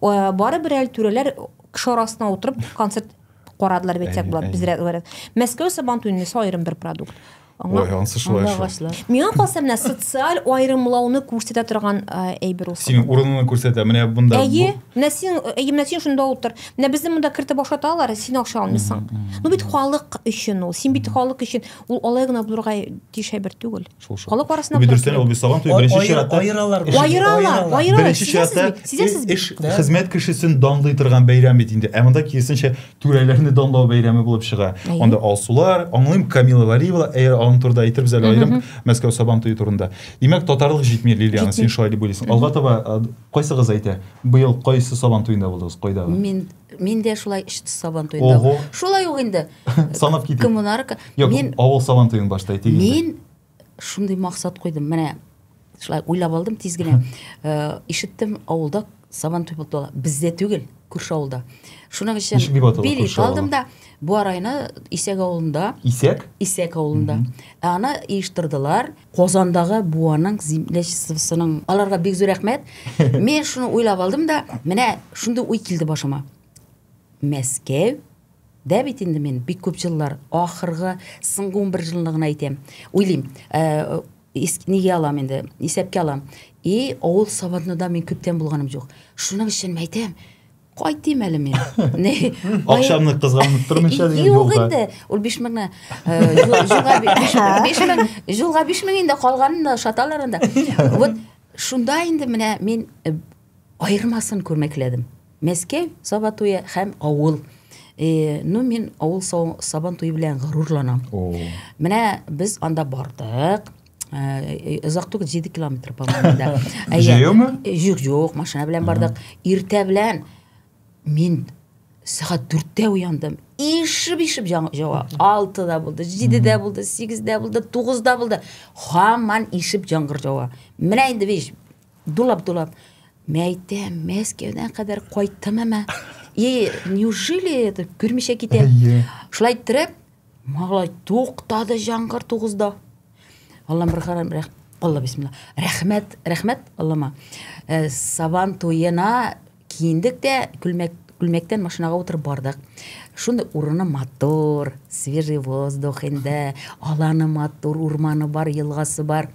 э, бары бер әле түрәләр кеше арасына утырып концерт карадылар бит як булат безрәк Мәскәү сабантуеннысы аерым бер продукт. Аңа, Ой, ансы шулай аңа шул. агачлар. Миңа калса менә социаль аерымлауны күрсәтә торган э, әйбер ул. Синең урыныңны күрсәтә. Менә бунда Әйе, бу- менә син, әйе, менә син шунда утыр. Менә безне монда кертеп башлаталар, син акча алмыйсың. Ну бит халык өчен ул. Син бит халык өчен. Ул алай гына булырга тиеш әйбер түгел. Шул, шул. Халык арасында Бу булырга дөрестән кирәк. ул бит саган туе Ай- беренче ай- чиратта. айыралар эш- бу. Аералар, Аералар. аералар. Беренче Сизәсез чиратта бит, сизәсез бит. эш- Да. хезмәт кешесен данлый торган бәйрәм бит инде. Ә монда киресенчә түрәләрне данлау бәйрәме булып чыга. Анда алсулар, аңлыйм, Камила Валиева, әгәр аның турында әйтербез әле аерым Мәскәү Сабан туе турында. Димәк, татарлык җитми, Лилиана, син шулай дип уйлыйсың. Алга таба кайсыгыз әйтә? Быел кайсы Сабан туенда булдыгыз, кайда? Мин мин дә шулай өч Сабан туенда. Ого. Шулай ук инде. Санап китик. Коммунарка. Мин авыл Сабан туен башта әйтик. Мин шундый максат куйдым менә шулай уйлап алдым тиз генә э, ишеттем авылда сабан туй булып тула бездә түгел күрше авылда шуның өчен Ничек дип атала билет күрше авылы? алдым да буа районы исәк авылында Исәк? исәк авылында ә аны оештырдылар казандагы буаның землячествосының аларга бик зур рәхмәт мен шуны уйлап алдым да менә шундый уй килде башыма мәскәү Дә бит инде мин бик күп җыллар, ахыргы, соңгы унбер җылны гына әйтәм. Уйлыйм, нигә алам инде, исәпкә алам. И, авыл сабантуйда мин күптән булганым юк. Шуның өчен әйтәм, кайтыйм әле мин. Акчамны кызганып тормыйча дигән юлга. Юк инде, ул 5000 генә. Юлга 5000, юлга 5000 инде калганын да ошаталар анда. Вот шунда инде менә мин Аермасын күрмәкләдем. Мәскәү, Саба туе һәм авыл. Э, ну, мин авыл Сабан туе белән горурланам. Менә без анда бардык. Э, озак түгел 7 километр по моему да җәяүме юк юк машина белән бардык иртә белән мин сәгать дүрттә уяндым ишеп ишеп җава алтыда булды җидедә булды сигездә булды тугызда булды һаман ишеп жаңгыр җава менә инде биш Дулап-дулап, мәйтә, Мәскәүдән кадәр кайттым әмә. И, неужели это күрмичә китә? Шулай иттереп, малай туктады җангыр тугызда. Аллам бер харам рәх... Алла бисмилла. Рәхмәт, рәхмәт Аллама. Э, Сабан туена киендек тә күлмәк күлмәктән машинага утырып бардык. Шуны урыны матур, свежий воздух инде, аланы матур, урманы бар, елгасы бар.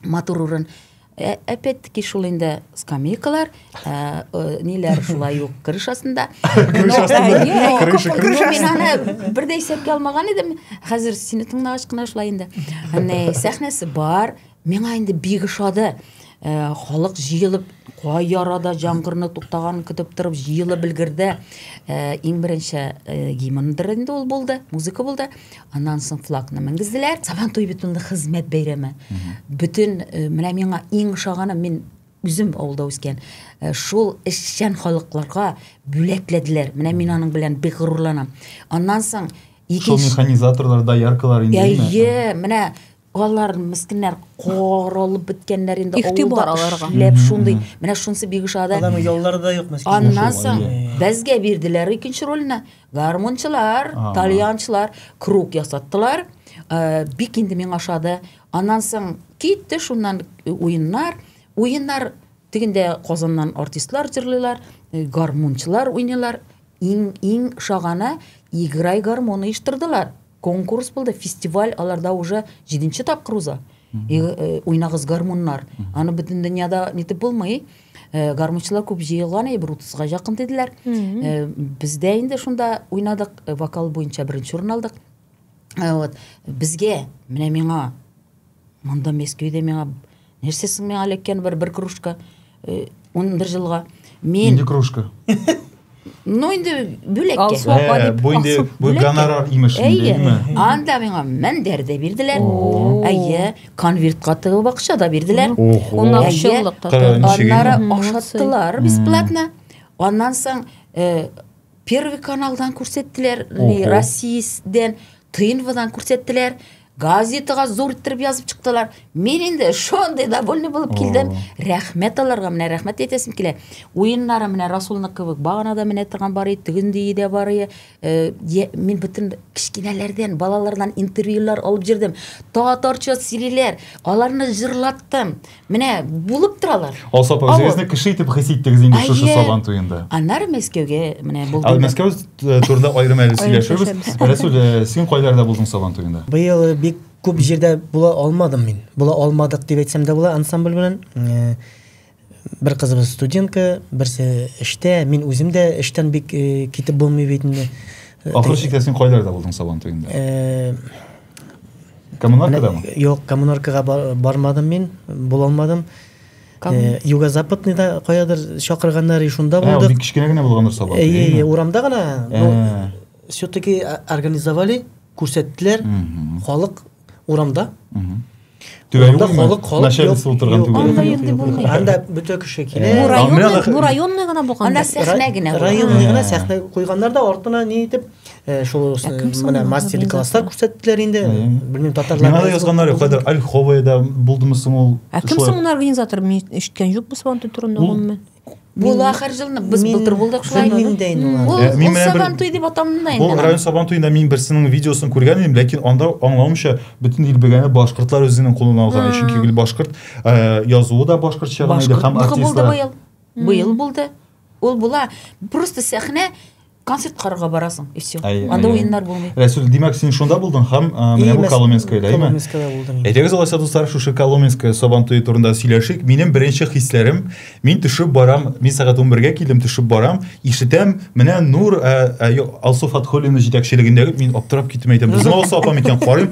матур урын. Ә, опять-таки шул инде скамейкалар, ә, э, ниләр шулай ук крыш астында. Крыш астында. Мин аны бер дә исәпкә алмаган идем. Хәзер сине тыңлагач кына шулай инде. Әнә сәхнәсе бар. Миңа инде бик ошады. Э, халык җыелып кай ярада җангырны туктаган көтеп торып җыелып өлгерде э, иң беренче э, гимндыр инде ул булды музыка булды аннан соң флагны менгезделәр сабан туе бит инде хезмәт бәйрәме бөтен э, менә миңа иң ошаганы мин үзем авылда үскән э, шул эшчән халыкларга бүләкләделәр менә мин аның белән бик горурланам аннан соң шул механизаторлар дояркалар инде әйе менә Алар мескеннәр каралып беткәннәр инде Ихтибар аларга. Ләп шундый. Менә шунсы бик ошады. Аларның яллары да юк мескин. Аннан соң безгә бирделәр икенче рольне. Гармунчылар, тальянчылар круг ясаттылар. Э, бик инде миңа ошады. Аннан соң китте шуннан э, уеннар. Уеннар тегендә Казаннан артистлар җырлыйлар, э, гармунчылар уйныйлар. Иң иң шагана играй гармун оештырдылар. конкурс булды фестиваль аларда уже җиденче тапкыр уза э, уйнагыз гармуннар аны бөтен дөньяда нитеп булмый э, гармунчылар күп җыелган әйе бер утызга якын диделәр э, бездә инде шунда уйнадык вокал буенча беренче урын алдык вот безгә менә миңа Монда Мәскәүдә миңа нәрсә соң миңа эләккән бер бер кружка э, ун бер жылга. Мин Инде кружка. Ну инде бүләккә. Алсу апа Ә, дип. бу инде Алсу, бу бүләккә. гонорар имеш инде, Әйе. имме? Анда миңа мендәр дә бирделәр. О. Әйе, конвертка тыгып акча да бирделәр. Ох, Он на ох. общеллык Кара, такой. ничек Аннары инде? ашаттылар бесплатно. Аннан соң э, Первый каналдан күрсәттеләр, Россиядән, Тынвадан күрсәттеләр. Газетага зур иттереп язып чыктылар. Мин инде шундый довольный булып килдем. Рәхмәт аларга, менә рәхмәт әйтәсем килә. Уеннары менә Расулны кебек баганада менә торган бар иде, тегендии дә бар иде. Э, мин бөтен кечкенәләрдән, балалардан интервьюлар алып җирдем. Татарча сөйлиләр, аларны җырлаттым. Менә булып торалар. Алсапов җегезне кеше итеп хис иттегез инде шушы Сабан туенда. Аннары Мәскәүгә менә булдым. Ә Мәскәү э, турында аерым әле сөйләшербез. Рәсүл, э, син кайларда булдың Сабан туенда? Быел э, бик күп җирдә була алмадым мин. Була алмадык дип әйтсәм дә була ансамбль белән. Бер кызыбыз студентка, берсе эштә, мин үзем дә эштән бик китеп булмый бит инде. Ахыр чиктә син кайларда булдың Сабан туенда? Коммунаркада мы? Юк, коммунаркага бармадым мин, булалмадым. Э, Юго-западный да каядыр чакырганнар, и шунда булдык. Ә, бик кечкенә генә булгандыр сабак. Э, урамда гына. Э. Все-таки организовали, күрсәттеләр. Халык урамда. Түбәлдә халык халык начальница утырган түбәлдә. Анда инде булмый. Анда бөтә кеше килә. Бу районны, бу районны гына булган. Анда сәхнә генә. Районны гына сәхнә куйганнар да артына ни итеп э, шул менә мастер класслар күрсәттеләр инде. Белмим татарлар. Менә язганнар юк, хәзер Альховая да булдымы соң ул. Ә кем соң ул организатор? Мин ишеткән юк бу сабантуй турында гомумән. Бул ахыр жылны без былтыр булдык шулай. Ул Сабан туй дип аталына инде. Бу район Сабан туенда мин берсенең видеосын күргән идем, ләкин анда аңлавымча бөтен ил белгәне башкортлар үзенең кулына алган, чөнки гел башкорт э, язуы да башкортча гына иде һәм артистлар. Быел булды. Ул була. Просто сәхнә концерт карарга барасың и все анда уеннар булмый рәсүл димәк син шунда булдың һәм менә бу коломенскоеда әйме әйдәгез алайса дуслар шушы коломенское сабан туе турында сөйләшик минем беренче хисләрем мин төшеп барам мин сәгать унбергә килдем төшеп барам ишетәм менә нур алсу фатхуллина җитәкчелегендәге мин аптырап киттем әйтәм безнең алсу апам икән карыйм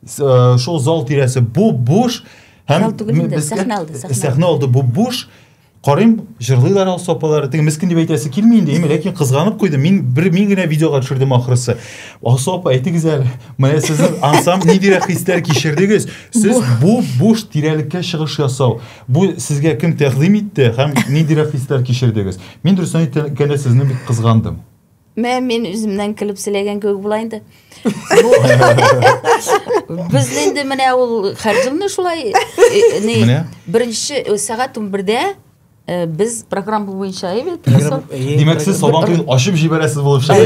Э, шул зал тирәсе бу буш һәм сәхнә алды сәхнә алды бу буш карыйм җырлыйлар алсу сопалар теге мескен дип әйтәсе килми инде ими ләкин кызганып куйдым мин бер мин генә видеога төшердем ахрысы алсу апа әйтегез әле менә сезнең ансам ниндирәк хисләр кичердегез сез бу буш тирәлеккә чыгыш ясау бу сезгә кем тәкъдим итте һәм ниндирәк хисләр кичердегез мин дөресен әйткәндә сезне бик кызгандым Мә, мин үземнән көлеп сөйләгән кебек була инде. Без инде менә ул хәрҗилне шулай э, ни беренче э, сәгать 11-дә Э, без программа буенча әйбәт димәк сез сабан туен ачып җибәрәсез булып чыга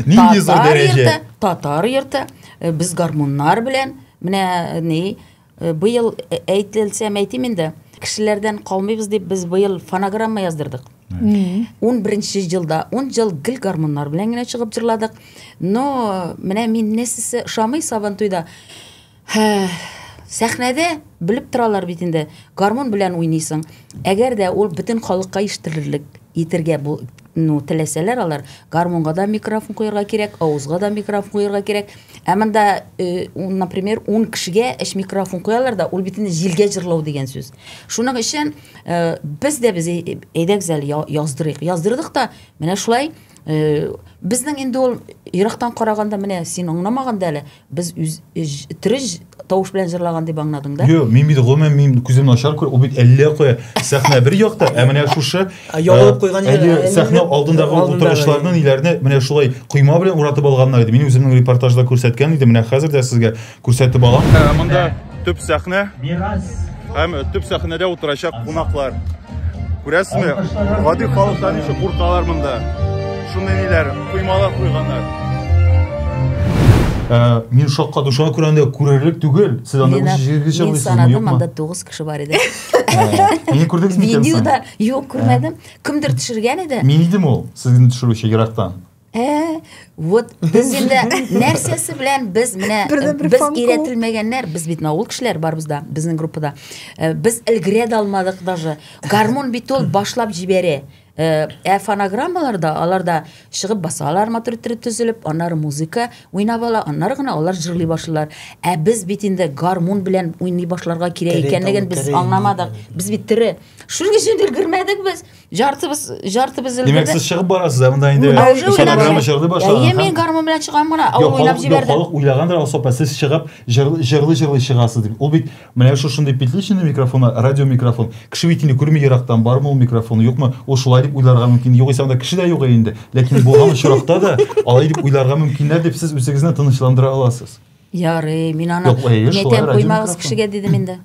нинди зур дәрәҗә татар йорты э, без гармуннар белән менә ни Э, быел э, әйтелсәм әйтим инде кешеләрдән калмыйбыз дип без быел фонограмма яздырдык он бірінші жылда он жыл гіл гармондар белән генә чыгып җырладык но менә мин нәрсәсе ошамый сабантуйда сәхнәдә белеп торалар бит инде гармон белән уйныйсың әгәр дә ул бөтен халыкка ишетерлек итергә Ну, теләсәләр алар, гармунга да микрофон куярга кирәк, авызга да микрофон куярга кирәк. Ә монда, э, например, 10 кешегә эш микрофон куялар да, ул бит инде җилгә җырлау дигән сүз. Шуның өчен э, без дә без әйдәгез әле яздырыйк. Яздырдык та, менә шулай э, безнең инде ул ерактан караганда менә син аңламаганда әле Без үз трж тавыш белән җырлаган дип аңладың да? Юк, мин бит гомумән мин күзем начар күр, ул бит әллә кая сәхнә бер якта, ә менә шушы ягылып куйган әле сәхнә алдындагы утыргычларны ниләрне менә шулай койма белән уратып алганнар иде. Мин үземнең репортажда күрсәткән идем, менә хәзер дә сезгә күрсәтеп алам. Ә, монда төп сәхнә. Мирас. Һәм төп сәхнәдә утырачак кунаклар. Күрәсезме, гади халыклар ничек куркалар монда. Шундый ниләр, коймалар куйганнар. Ә, мин шакка дошуга күрә анда күрерлек түгел. Сез анда Лена, үз җиргә чыгып Мин санадым, анда 9 кеше бар иде. Мин күрдегез микән? Видеода юк күрмәдем. Кемдер төшергән иде. Мин идем ул, сезне төшерүче ерактан. Ә, вот без инде нәрсәсе белән без менә без өйрәтелмәгәннәр, без бит наул кешеләр барбыз да, безнең группада. Э, без өлгерә дә алмадык даже. Гармон бит ул башлап җибәрә. Э, ә фонограммаларда аларда чыгып басалар мотор иттереп төзелеп, аннары музыка уйнап ала, аннары гына алар җырлый башлыйлар. Ә без бит инде гармон белән уйный башларга кирәк икәнлеген без аңламадык. Без бит тере. Шуның өчен өлгермәдек без. Жартыбыз, жартыбыз өлгерде. Димәк, сез чыгып барасыз, ә монда инде программа җырлый башлады. Йә, мин гармун белән чыгам гына, ау уйлап җибәрде. Халык уйлагандыр, Алсапа, сез чыгып җырлый-җырлый чыгасыз дип. Ул бит менә шушындый петличный микрофон, радио микрофон. Кеше бит инде күрми ерактан, бармы ул микрофон, юкмы? Ул шулай дип уйларга мөмкин. Югыйсә анда кеше дә юк инде. Ләкин булган очракта да алай дип уйларга мөмкиннәр дип сез үзегезне тынычландыра аласыз. Ярый, мин аны нәтәм коймагыз кешегә дидем инде.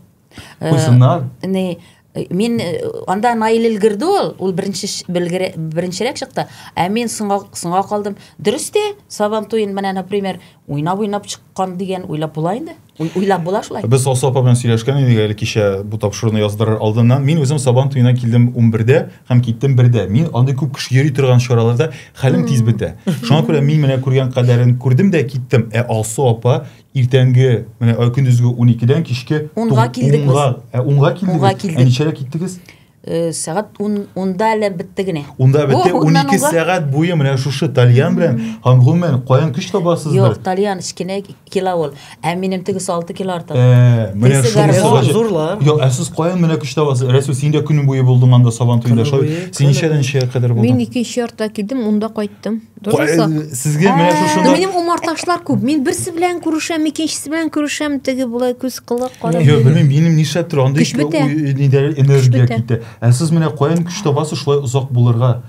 Куйсыннар. Э, Э, мин э, анда наил өлгерде ул ул беренче беренчерәк чыкты ә мин соңга соңга калдым дөрес тә сабан туен менә например уйнап уйнап чыккан дигән уйлап була инде уйлап була шулай без алсу апа белән сөйләшкән идек әле кичә бу тапшыруны яздырыр алдыннан мин үзем сабан туена килдем ун бердә һәм киттем бердә мин андый күп кеше йөри торган чараларда хәлем тиз бетә шуңа күрә мин менә күргән кадәрен күрдем дә киттем ә алсу апа Иртәнге, менә ай көндезге 12-дән кичке Унга килдек без. Унга, ә унга килдегез. Унга килдек. Ә ничәдә киттегез? Э, сәгать ун унда әле бетте генә унда бетте унике сәгать буе менә шушы тальян белән һәм гомумән каян көч табасыз юк тальян кечкенә кило ул ә минем тегесе алты кило артык э, менә шунысы зурлар юк ә сез каян менә көч табасыз рәсүл син дә көне буе булдың анда сабан туенда син ничәдән ничәгә кадәр булдың мин икенче яртыда килдем унда кайттым Сезгә менә шушы. Минем умарташлар күп. Мин берсе белән күрешәм, икенчесе белән күрешәм, теге булай күз кылы кара. Йо, белмим, минем нишләп тора, андый нидә энергия китә. Ә сез менә каян көч табасыз шулай озак булырга?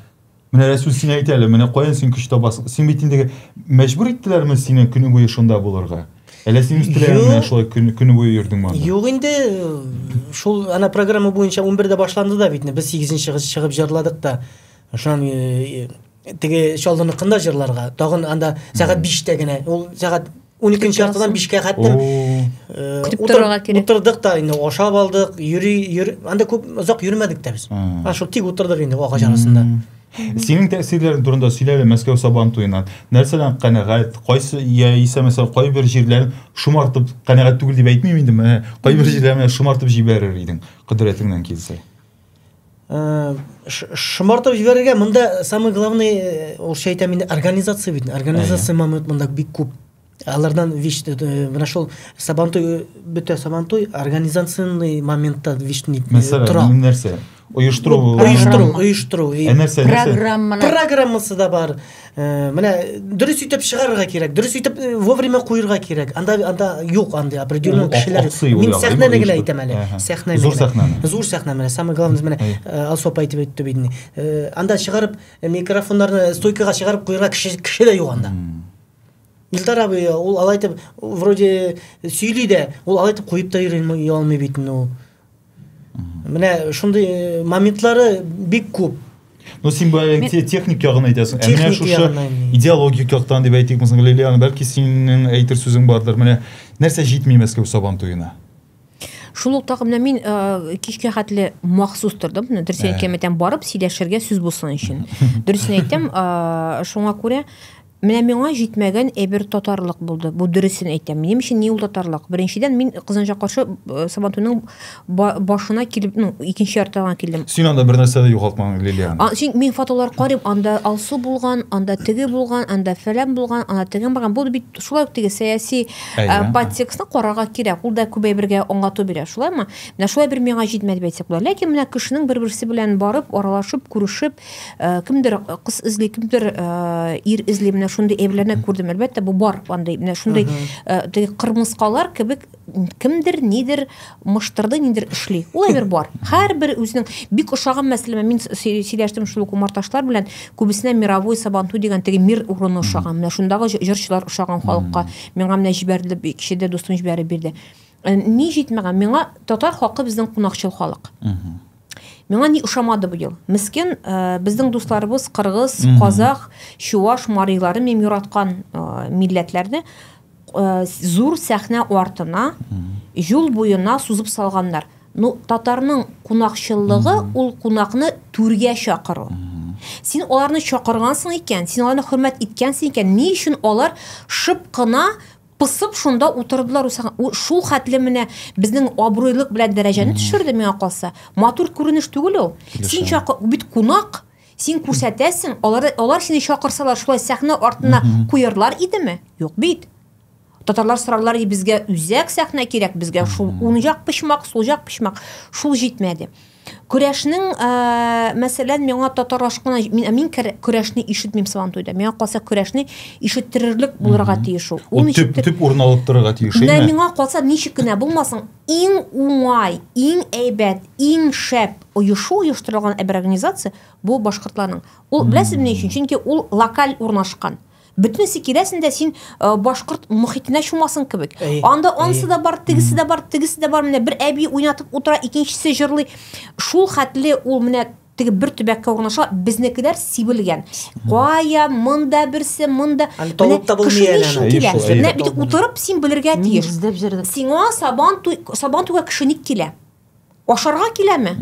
Менә Рәсүл син әйт әле, менә каян син көч табасың? Син бит инде мәҗбүр иттеләрме сине көне буе шунда булырга? Әллә син үз теләгеңнән шулай көне көне буе йөрдең монда? Юк инде, шул ана программа буенча 11 дә башланды да бит, без 8 чыгып җырладык та. Шуннан теге чаллыныкын да җырларга тагын анда сәгать биштә генә ул сәгать уникенче яртыдан бишкә хәтлем э, көтеп торырга кирәк утырдык та инде ашап алдык йөри йөр анда күп озак йөрмәдек тә без а шул тик утырдык инде агач арасында синең тәэсирләрең турында сөйләле мәскәү сабан туеннан нәрсәдән канәгать кайсы яисә мәсәлән кайбер җирләрен шомартып канәгать түгел дип әйтмим инде менә кайбер җирләрен шомартып җибәрер идең кодрәтеңнән килсә Э, шомартып җибәрергә монда самый главный э, ул шәй әйтәм инде организация бит организация момент монда бик күп алардан вич э, менә шул сабантуй бөтә сабантуй организационный моментта вишни тора нәрсә оештыру оештыру оештыру программасы да бар Э, менә дөрес итеп чыгарырга кирәк дөрес итеп э, вовремя куерга кирәк анда анда юк андый определенный кешеләр мин сәхнәне генә әйтәм әле сәхнәне зур сәхнәне зур сәхнә менә самый главный менә э, алсу апа әйтеп үтте бит анда чыгарып микрофоннарны стойкага чыгарып куерга кеше кеше дә юк анда Илдар абый ул алай итеп вроде сөйли дә ул алай итеп куеп та йөри алмый бит инде ул Менә шундый э, моментлары бик күп. Ну, син бу э, техник ягын әйтәсең. Ә менә шушы идеологик яктан дип әйтик, мисалга Лилиан, бәлки синең әйтер сүзең бардыр. Менә нәрсә җитми Мәскәү Сабан туена? Шул ук менә мин э, кичкә хәтле махсус тордым. Менә дөресен әйткән барып сөйләшергә сүз булсын өчен. Дөресен әйтәм, шуңа күрә Менә миңа җитмәгән әйбер татарлык булды. Бу дөресен әйтәм. Минем өчен ни ул татарлык? Беренчедән, мин Кызанча каршы э, Сабантуйның ба- башына килеп, ну, икенче яртыда гына килдем. Син анда бер нәрсә дә югалтмаган, Лилиан. А, чөнки мин фотолар карыйм, анда Алсу булган, анда теге булган, анда фәлән булган, анда тегең барган. Бу бит шулай ук теге сәяси Әйе. э, подтекстны карарга кирәк. Ул да күп әйбергә аңлату бирә, шулаймы? Менә шулай бер миңа җитмәде дип әйтсәк була. Ләкин менә кешенең бер-берсе белән барып, аралашып, күрешеп, Э, кемдер э, кыз эзли кемдер э, ир эзли менә шундый әйберләрне күрдем әлбәттә бу бар андый менә шундый теге кырмыскалар кебек кемдер нидер мыштырды нидер эшли ул әйбер бар һәрбер үзенең бик ошаган мәсәлән мин сөйләштем шул ук умарташлар белән күбесенә мировой сабанту дигән теге мир урыны ошаган менә шундагы җырчылар ошаган халыкка миңа менә җибәрде кичәдә дустым җибәреп бирде ни җитмәгән миңа татар халкы безнең кунакчыл халык Миңа ни ошамады бу ел. Мискен, э, безнең дусларыбыз кыргыз, казах, чуваш, марилары мем юраткан э, милләтләрне э, зур сәхнә артына, юл буена сузып салганнар. Ну, татарның кунакчыллыгы ул кунакны түргә чакыру. Син аларны чакыргансың икән, син аларны хөрмәт иткәнсең икән, ни өчен алар шып кына Пысып шунда утырдылар усага. У, Шул хәтле менә безнең абруйлык белән дәрәҗәне төшерде миңа калса. Матур күренеш түгел ул. Син Килешәм. чакы бит кунак. Син күрсәтәсең, алар алар сине чакырсалар, шулай сәхнә артына куярлар идеме? Юк бит. Татарлар сорарлар иде безгә үзәк сәхнә кирәк, безгә шул уң як почмак, сул як почмак. Шул җитмәде. Көрәшнең, мәсәлән, миңа татар ашкына, мин, мин көрәшне ишетмим Сабантуйда. Миңа калса көрәшне ишеттерерлек булырга тиеш ул. Ул төп, төп урын алып торырга тиеш, әйме? Миңа калса ничек кенә булмасын, иң уңай, иң әйбәт, иң шәп оешу оештырылган бер организация бу башкортларның. Ул, беләсезме ни өчен? Чөнки ул локаль урнашкан. Бөтенесе киләсен дә син э, башкорт мөхитенә чумасын кебек. Анда ансы да бар, тегесе дә бар, тегесе дә бар. Менә бер әби уйнатып утыра, икенчесе җырлый. Шул хәтле ул менә теге бер төбәккә урнаша, безнекеләр сибелгән. Кая, монда берсе, монда. Толып та булмый әле. Кеше килә. Менә бит утырып син белергә тиеш. Сиңа сабан туй, сабан туйга кеше ник килә? ашарга киләме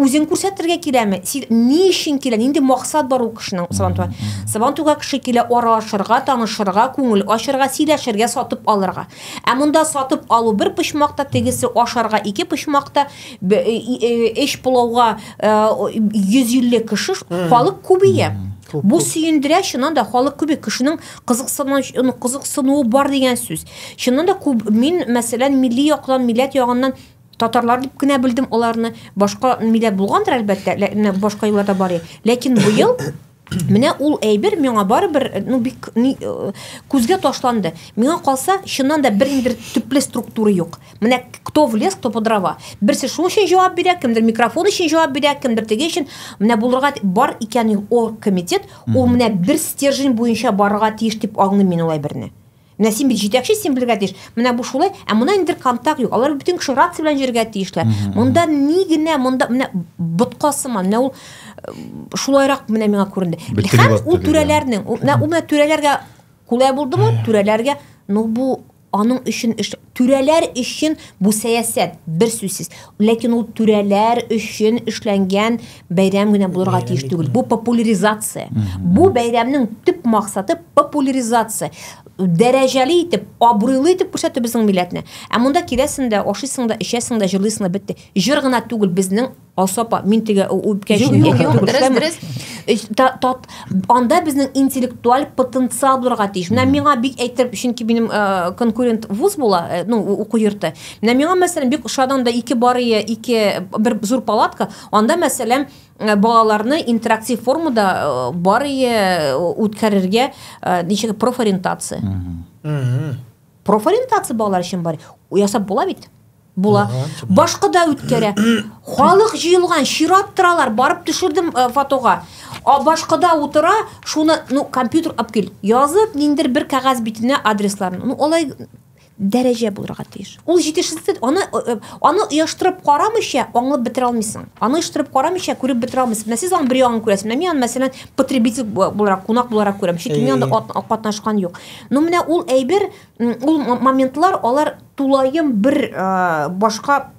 үзен күрсәтергә киләме ни өчен килә нинди максат бар ул кешенең сабантуйга сабантуйга кеше килә аралашырга танышырга күңел ачырга сөйләшергә сатып алырга ә монда сатып алу бер почмакта тегесе ашарга ике почмакта эш пылауга йөз илле кеше халык күбәя Бу сөендерә, чыннан да халык күбе кешенең кызыксынуы бар дигән сүз. Чыннан да күп мин мәсәлән милли яктан, милләт ягыннан Татарлар дип кенә белдем аларны. Башка милләт булгандыр әлбәттә, башка юлларда бар. Ләкин бу ел Менә ул әйбер миңа барыбер э, ну бик ни, э, күзгә ташланды. Миңа калса, чыннан да бер ниндидер төпле структура юк. Менә кто в лес, кто по дрова. Берсе шуның өчен җавап бирә, кемдер микрофон өчен җавап бирә, кемдер теге өчен. Менә булырга бар икән ул комитет, ул менә бер стержень буенча барырга тиеш дип аңлыйм мин ул әйберне. Менә син бит җитәкче, син белергә тиеш. Менә бу шулай, ә монда инде бер контакт юк. Алар бөтен кеше рация белән йөрергә тиешләр. Монда ни генә, монда менә ботка сыман, менә ул э, шулайрак менә миңа күренде. Һәм ул түрәләрнең, менә ул менә түрәләргә кулай булдымы? Түрәләргә, ну бу аның өчен эш Түрәләр өчен бу сәясәт, берсүзсез. Ләкин ул түрәләр өчен эшләнгән бәйрәм генә булырга тиеш түгел. Бу популяризация. Бу бәйрәмнең төп максаты популяризация. Дәрәҗәле итеп, абруйлы итеп күрсәтү безнең милләтне. Ә монда киләсең дә, ашыйсың да, эчәсең дә, җырлыйсың да, бетте. Җыр гына түгел, безнең Алса апа, мин теге үпкәч Юк, юк, юк, дөрес, дөрес. Анда безнең интеллектуаль потенциал булырга тиеш. Менә миңа бик әйтер, чөнки минем э, конкурент вуз була, э, ну, уку йорты. Менә миңа, мәсәлән, бик ошады анда ике барые, ике бер зур палатка. Анда, мәсәлән, э, балаларны интерактив формада барые үткәрергә ничек профориентация. Профориентация балалар өчен бар. Ясап була бит. була. Башка да үткәрә. Халык җыелган, чират торалар, барып төшердем э, фотога. А башкада утыра, шуны, ну, компьютер алып кил. Язып, ниндер бер кәгазь битенә адресларын. Ну, алай дәрәҗә булырга тиеш. Ул җитешсез, аны э, э, аны оештырып карамыйча аңлап бетерә алмыйсың. Аны оештырып карамыйча күреп бетерә алмыйсың. Менә сез аны бер ягын күрәсез. Менә мин аны мәсәлән потребитель буларак, кунак буларак күрәм. Чөнки мин анда катнашкан юк. Но менә ул әйбер ул моментлар алар тулаем бер ә, башка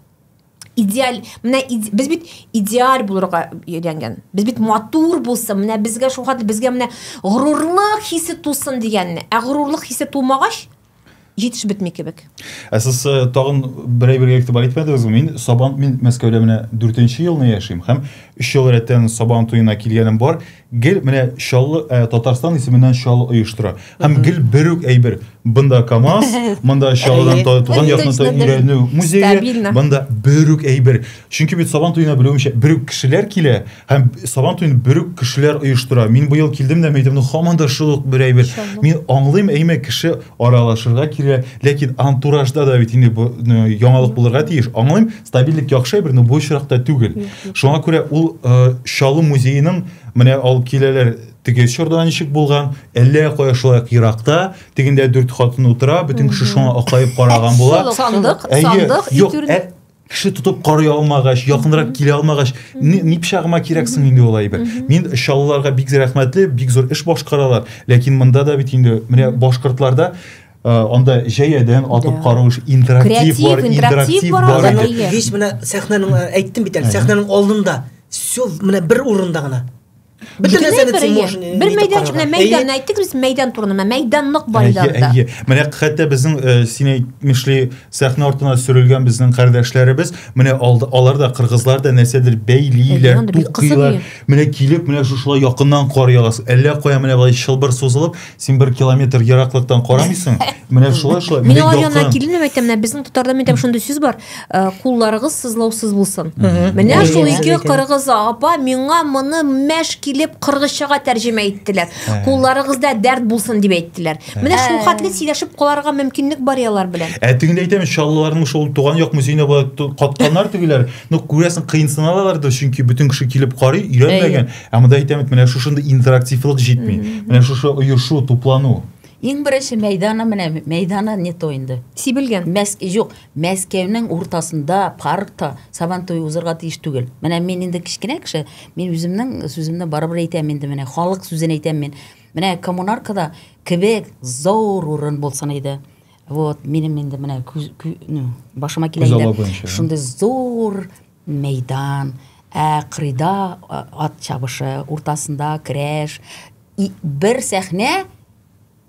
идеаль менә иде, без бит идеаль булырга өйрәнгән без бит матур булсын менә безгә шул хәтле безгә менә горурлык хисе тусын дигәнне ә горурлык хисе тумагач җитеш бетми кебек ә сез э, тагын бер әйбергә игътибар итмәдегезме мин сабан мин мәскәүдә менә дүртенче елны яшим һәм өч ел рәттән сабан туена килгәнем бар Гел менә Чаллы ә, Татарстан исеменнән Чаллы оештыра. Һәм гел бер үк әйбер. Бында КАМАЗ, монда Чаллыдан та- туган якны та Стабильно. өйрәнү музее, Стабильно. бында бер үк әйбер. Чөнки бит Сабан туена белүемчә бер үк кешеләр килә һәм Сабан туен бер үк кешеләр оештыра. Мин быел килдем дә мәйдәмне һаман да шул ук бер әйбер. Чаллы. Мин аңлыйм, әйме кеше аралашырга килә, ләкин антуражда да бит инде бу э, яңалык булырга тиеш. Аңлыйм, стабильлек яхшы әйбер но бу очракта түгел шуңа күрә ул э, чаллы музееның менә алып киләләр теге чорда ничек булган әллә кая шулай ук еракта тегендә дүрт хатын утыра бөтен кеше шуңа акаеп караган була сандык сандык юк ә, кеше тотып карый алмагач якынрак килә алмагач ни пычагыма кирәк соң инде ул әйбер мин чаллыларга бик рәхмәтле бик зур эш башкаралар ләкин монда да бит инде менә башкортларда анда җәядән атып карау интерактив бар интерактив бар весь менә сәхнәнең әйттем бит әле сәхнәнең алдында все менә бер урында гына бөтен нәрсәне син можешь бер мәйдан менә мәйдан әйттек без мәйдан турында менә мәйдан нык бар иде анда әйе менә хәтта безнең э, син әйтмешли сәхнә артына сөрелгән безнең кардәшләребез менә алар да кыргызлар да нәрсәдер бәйлиләр тукыйлар менә килеп менә шушылай якыннан кар ягасы әллә кая менә былай чылбыр сузылып Син бер километр ераклыктан карамыйсың. Менә шулай шулай. Мин алар янына килдем дип әйтәм, менә безнең татарда мен әйтәм, шундый сүз бар. Э, кулларыгыз сызлаусыз булсын. Менә шул ике кыргыз апа миңа моны мәш килеп кыргызчага тәрҗемә иттеләр. Кулларыгызда дәрт булсын дип әйттеләр. Менә шул хәтле сөйләшеп каларга мөмкинлек бар ялар белән. Ә тегендә әйтәм, чаллыларның шул туган як музеена катканнар тегеләр. Ну күрәсең, кыенсыналалар да, чөнки бөтен кеше килеп карый, өйрәнмәгән. Ә монда әйтәм бит, менә шушындый интерактивлык җитми. Менә шушы оешу, туплану. Иң беренче мәйданы менә мәйданы не то инде. Сибелгән. Мәс юк, Мәскәүнең уртасында паркта Сабан туе узырга тиеш түгел. Менә мин инде кечкенә кеше, мин үземнең сүземне барыбер әйтәм инде менә, халык сүзен әйтәм мин. Менә коммунаркада кебек зур урын булсын иде. Вот, минем инде менә ну, башыма килә инде. Шундый зур Мәйдан, ә кырыйда ат чабышы, уртасында көрәш, и, бер сәхнә,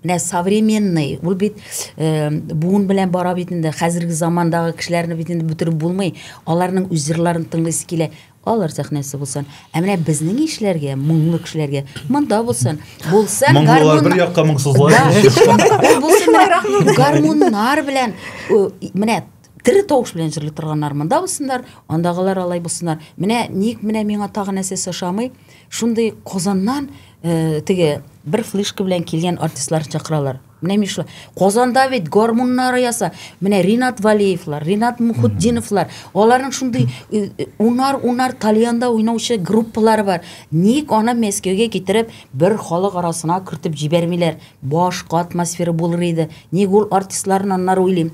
менә современный, ул бит буын белән бара бит инде, хәзерге замандагы кешеләрне бит инде бөтереп булмый, аларның үз җырларын тыңлыйсы килә, алар сәхнәсе булсын. Ә менә безнең ишләргә, моңлы кешеләргә монда булсын. Булсын гармун. Моңлылар бер якка, моңсызлар икенче якка. Булсын гармуннар белән, менә Тере тавыш белән җырли торганнар монда булсыннар, андагылар алай булсыннар. Менә ник менә миңа тагы нәрсә сошамый? Шундый Казаннан э, теге бер флешка белән килгән артистлар чакыралар. Менә мин шулай. Казанда бит гармуннары яса. Менә Ринат Валеевлар, Ринат Мухутдиновлар, аларның шундый э, э, унар унар тальянда уйнаучы группалары бар. Ник аны Мәскәүгә китереп бер халык арасына кертеп җибәрмиләр? Башка атмосфера булыр иде. Ник ул артистларны аннары уйлыйм.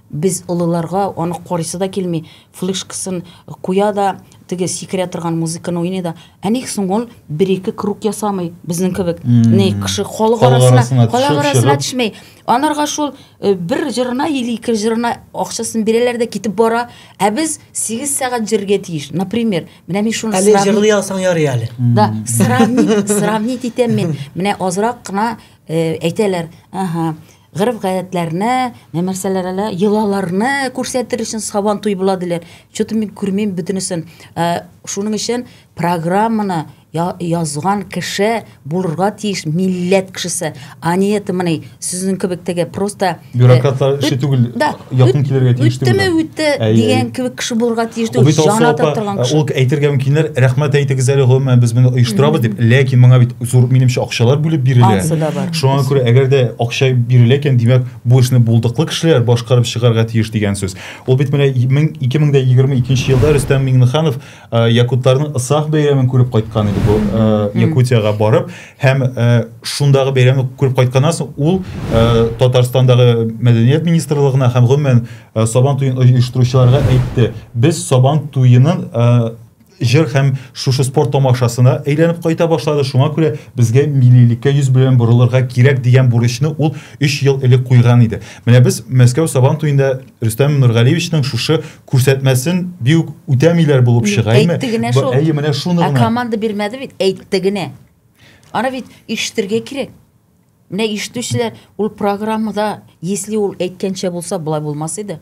Без олыларга аны карыйсы да килми, флешкасын куя да, теге сикерә торган музыканы уйный да, ә ник соң ул бер-ике круг ясамый, безнең кебек, ни кеше халык арасына, халык арасына төшмәй. Анарга шул э, бер җырына или ике җырына акчасын бирәләр дә китеп бара, ә без 8 сәгать җырга тиеш. Например, менә мин шуны Әле җырлый алсаң ярый әле. Да, сравнить, сравнить итәм мин. Менә азрак кына э, әйтәләр, ага, Гореф-гадәтләрне, нәмәрсәләрәлә йолаларны күрсәтер өчен сабан туй була диләр. Чөтен мин күрмим бөтенесен. Ә, шуның өчен программаны язган кеше булырга тиеш милләт кешесе. А не это мыни, сүзнең кебек теге просто... Э, Бюрократлар эше түгел. Да, якын килергә тиеш үттеме үтте дигән кебек кеше булырга тиеш түгел җан ата торган кеше ул әйтергә мөмкиннәр рәхмәт әйтегез әле гомумән без моны оештырабыз дип ләкин моңа бит зур минемчә акчалар бүлеп бирелә шуңа күрә әгәр дә акча бирелә икән димәк бу эшне булдыклы кешеләр башкарып чыгарга тиеш дигән сүз ул бит менә ике мең дә егерме икенче елда рөстәм миңнеханов Э, якутларның ысах бәйрәмен күреп кайткан иде бу э, якутиягә барып һәм э, шундагы бәйрәмне күреп кайтканнан соң ул татарстандагы мәдәният министрлыгына һәм гомумән сабан туен оештыручыларга әйтте без сабан туенын җыр һәм шушы спорт тамашасына әйләнеп кайта башлады шуңа күрә безгә миллилеккә йөз белән борылырга кирәк дигән бурычны ул өч ел элек куйган иде менә без мәскәү сабан туенда рөстәм нургалиевичның шушы күрсәтмәсен бик үтәмиләр булып чыга әйме әйтте генә шул әйе менә шуны гына команда бирмәде бит әйтте генә аны бит ишетергә кирәк менә ишетүчеләр ул программада если ул әйткәнчә булса болай булмас иде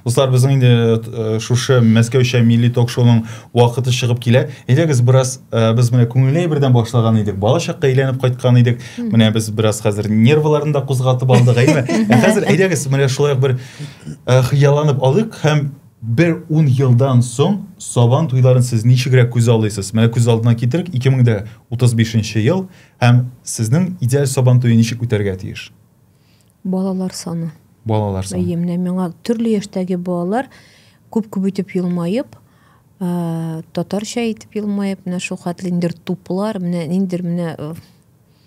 Дуслар, безнең инде э, шушы Мәскәүчә милли ток-шоуның вакыты чыгып килә. Әйдәгез бераз э, без менә күңелле бердән башлаган идек. Балачакка әйләнеп кайткан идек. Менә без бераз хәзер нервларны да кузгатып алдык, әйме? Ә хәзер әйдәгез менә шулай бер Э, хыялланып алыйк һәм бер ун елдан соң сабан туйларын сез ничегрәк күз алыйсыз менә күз алдына китерик 2035 ел һәм сезнең идеаль сабан туе ничек үтәргә тиеш балалар саны балалар саны әйе менә миңа төрле яшьтәге балалар күп күп итеп елмаеп ә, татарча итеп елмаеп менә шул хәтле ниндер туплар менә ниндер менә э,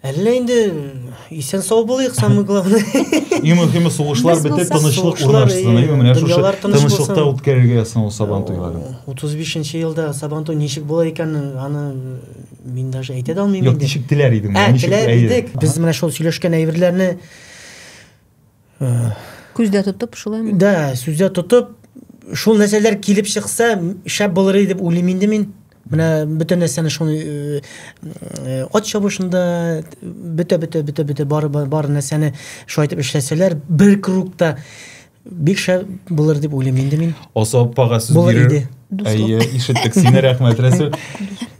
Әллә инде исән сау булыйк, самый главный. И мөһиме сугышлар бетеп, тынычлык урнашсын. И менә шушы тынычлыкта үткәрергә ясына ул Сабан туйларын. 35-нче елда Сабан туй ничек була икән, аны мин даже әйтә дә алмыйм инде. Юк, ничек теләр идең? Ә, теләр идек. Без менә шул сөйләшкән әйберләрне Күздә тотып шулаймы? Да, сүздә тотып, шул нәрсәләр килеп чыкса, шәп булыр иде дип уйлыйм инде мин. Менә бөтен нәрсәне шул э, э, ат чабышында бөтә бөтә бөтә бөтә бар бар нәрсәне шулай итеп эшләсәләр, бер кругта бик шәп булыр дип уйлыйм инде мин. Аса аппага сүз бирер. Әйе, ишеттек сине, рәхмәт, Рәсүл.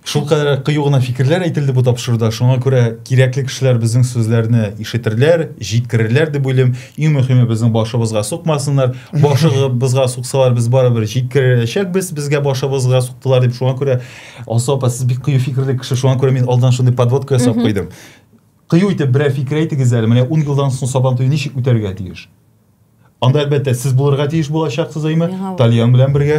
Шул кадәр кыю гына фикерләр әйтелде бу тапшыруда. Шуңа күрә кирәкле кешеләр безнең сүзләрне ишетерләр, җиткерерләр дип уйлыйм. Иң мөһиме безнең башыбызга сукмасыннар. Башыбызга суксалар без барыбер җиткерәчәкбез. Безгә башыбызга суктылар дип шуңа күрә Алсу апа сез бик кыю фикерле кеше. Шуңа күрә мин алдан шундый подводка ясап куйдым. Кыю итеп берәр фикер әйтегез әле. Менә 10 елдан соң Сабантуй ничек үтәргә тиеш? Анда әлбәттә сез булырга тиеш булачаксыз, әйме? Тальян белән бергә.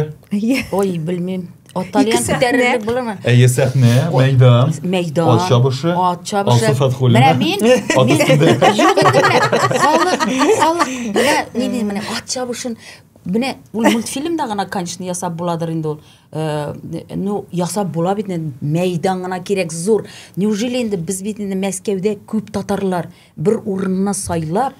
Ой, белмим. Ат тальян күтәрерлек булырмы? Әйе, сәхнә, мәйдан. Мәйдан. Ат чабышы. Ат чабышы. Алсу Фатхуллина. Менә мин. Ат өстендә. Юк, менә халык, халык. Менә ни дим, менә ат чабышын Менә ул мультфильмда гына, конечно, ясап буладыр инде ул. Э, ну, ясап була бит, мәйдан гына кирәк зур. Неужели инде без бит инде Мәскәүдә күп татарлар бер урынны сайлап,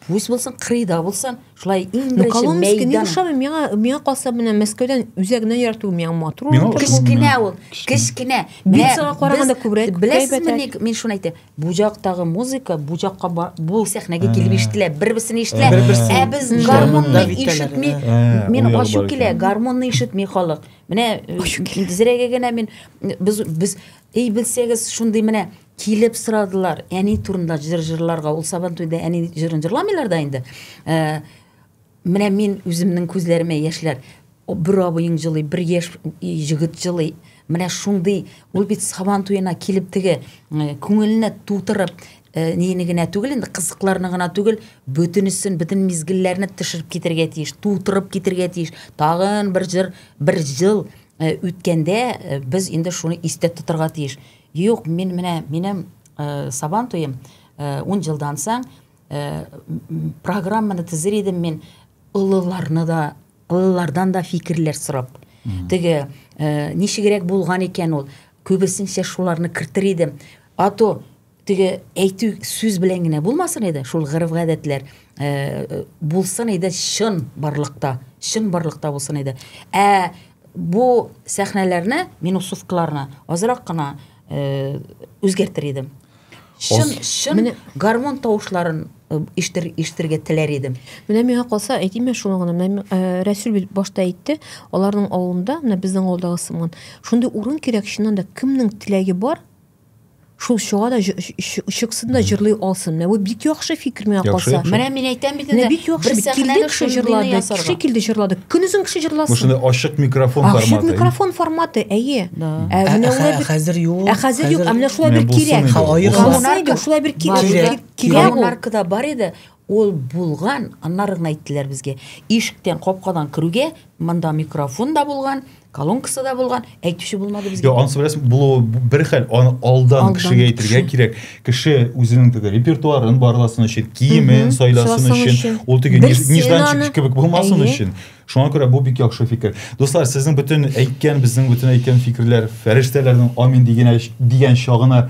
Пусть булсын, кырыйда булсын, шулай иң ну, беренче мәйдан. Коломский не ошамый, миңа, миңа калса менә Мәскәүдән үзәгенә ярату миңа матур. Кечкенә ул, кечкенә. Бик саңа караганда күбрәк. Беләсезме ник мин шуны әйтәм? Бу жактагы музыка бу жакка бу сәхнәгә килеп ишетелә, бер-берсен ишетелә. Ә без гармонны ишетми. Мин ачу килә, гармонны ишетми халык. Менә э, зрәгә генә мин без без эй белсәгез шундый менә Килеп сорадылар, әни турында җыр җырларга. Ул Сабантуйда әни җырын җырламыйлар да инде. Ә, менә мин үземнең күзләремә яшьләр. Бер абыең җылый, бер яшь җегет җылый. Менә шундый, ул бит Сабантуена килеп теге күңеленә тутырып, Э, нени генә түгел инде кызыкларны гына түгел бөтенесен бөтен мизгелләрне төшереп китергә тиеш тутырып китергә тиеш тагын бер җыр бер ел э, үткәндә э, без инде шуны истә тотарга тиеш Юк, мин менә минем э, сабан туем э, ун жылдан соң э, программаны тезер идем мин олыларны да олылардан да фикерләр сорап теге э, ничегрәк булган икән ул күбесенчә шуларны кертер идем а то теге әйтү сүз белән генә булмасын иде шул гырыф гадәтләр э, булсын иде чын барлыкта чын барлыкта булсын иде ә Бу сәхнәләрне, минусовкаларны азрак кына э, үзгәртер идем. Чын, чын Менә... гармон тавышларын э, иштер, иштергә теләр идем. Менә миңа калса, әйтим мә шуны гына. Менә э, Рәсүл бит башта әйтте, аларның авылында, менә безнең авылдагы сыман, шундый урын кирәк, чыннан да, кемнең теләге бар, Шул чыга да чыксын да җырлый алсын. Менә бу бик яхшы фикер миңа калса. Менә мин әйтәм бит инде. Бик яхшы бит. Килде кеше җырлады, кеше килде җырлады. Көнезен кеше җырласын. Бу шундый ачык микрофон форматы. Ачык микрофон форматы, әйе. Ә менә улар хәзер юк. Ә хәзер юк, ә менә шулай бер кирәк. Ха, аерылмаса иде, шулай бер кирәк. Кирәк. Монаркада бар иде. Ул булган, аннары гына әйттеләр безгә. Ишектән, капкадан керүгә, монда микрофон да булган, колонкасы да булган, әйтүче булмады безгә. Йо, ансы беләсең, булуы бер хәл, аны алдан, алдан кешегә әйтергә кирәк. Кеше үзенең теге репертуарын барласын өчен, киемен сайласын өчен, ул теге нежданчик кебек булмасын өчен. Шуңа күрә бу бик яхшы фикер. Дуслар, сезнең бөтен әйткән, безнең бөтен әйткән фикерләр фәрештәләрнең амин дигән дигән чагына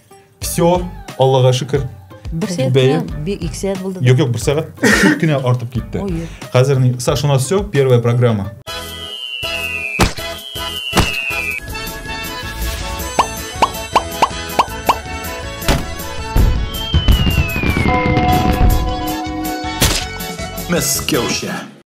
Все, Аллага шөкер. Бер сәгать Бәйе. кенә, бик ике сәгать булды. Юк, юк, бер сәгать чуть кенә артып китте. Ой, юк. Хәзер ни- Саш, у нас все, первая программа. Мәскәүчә.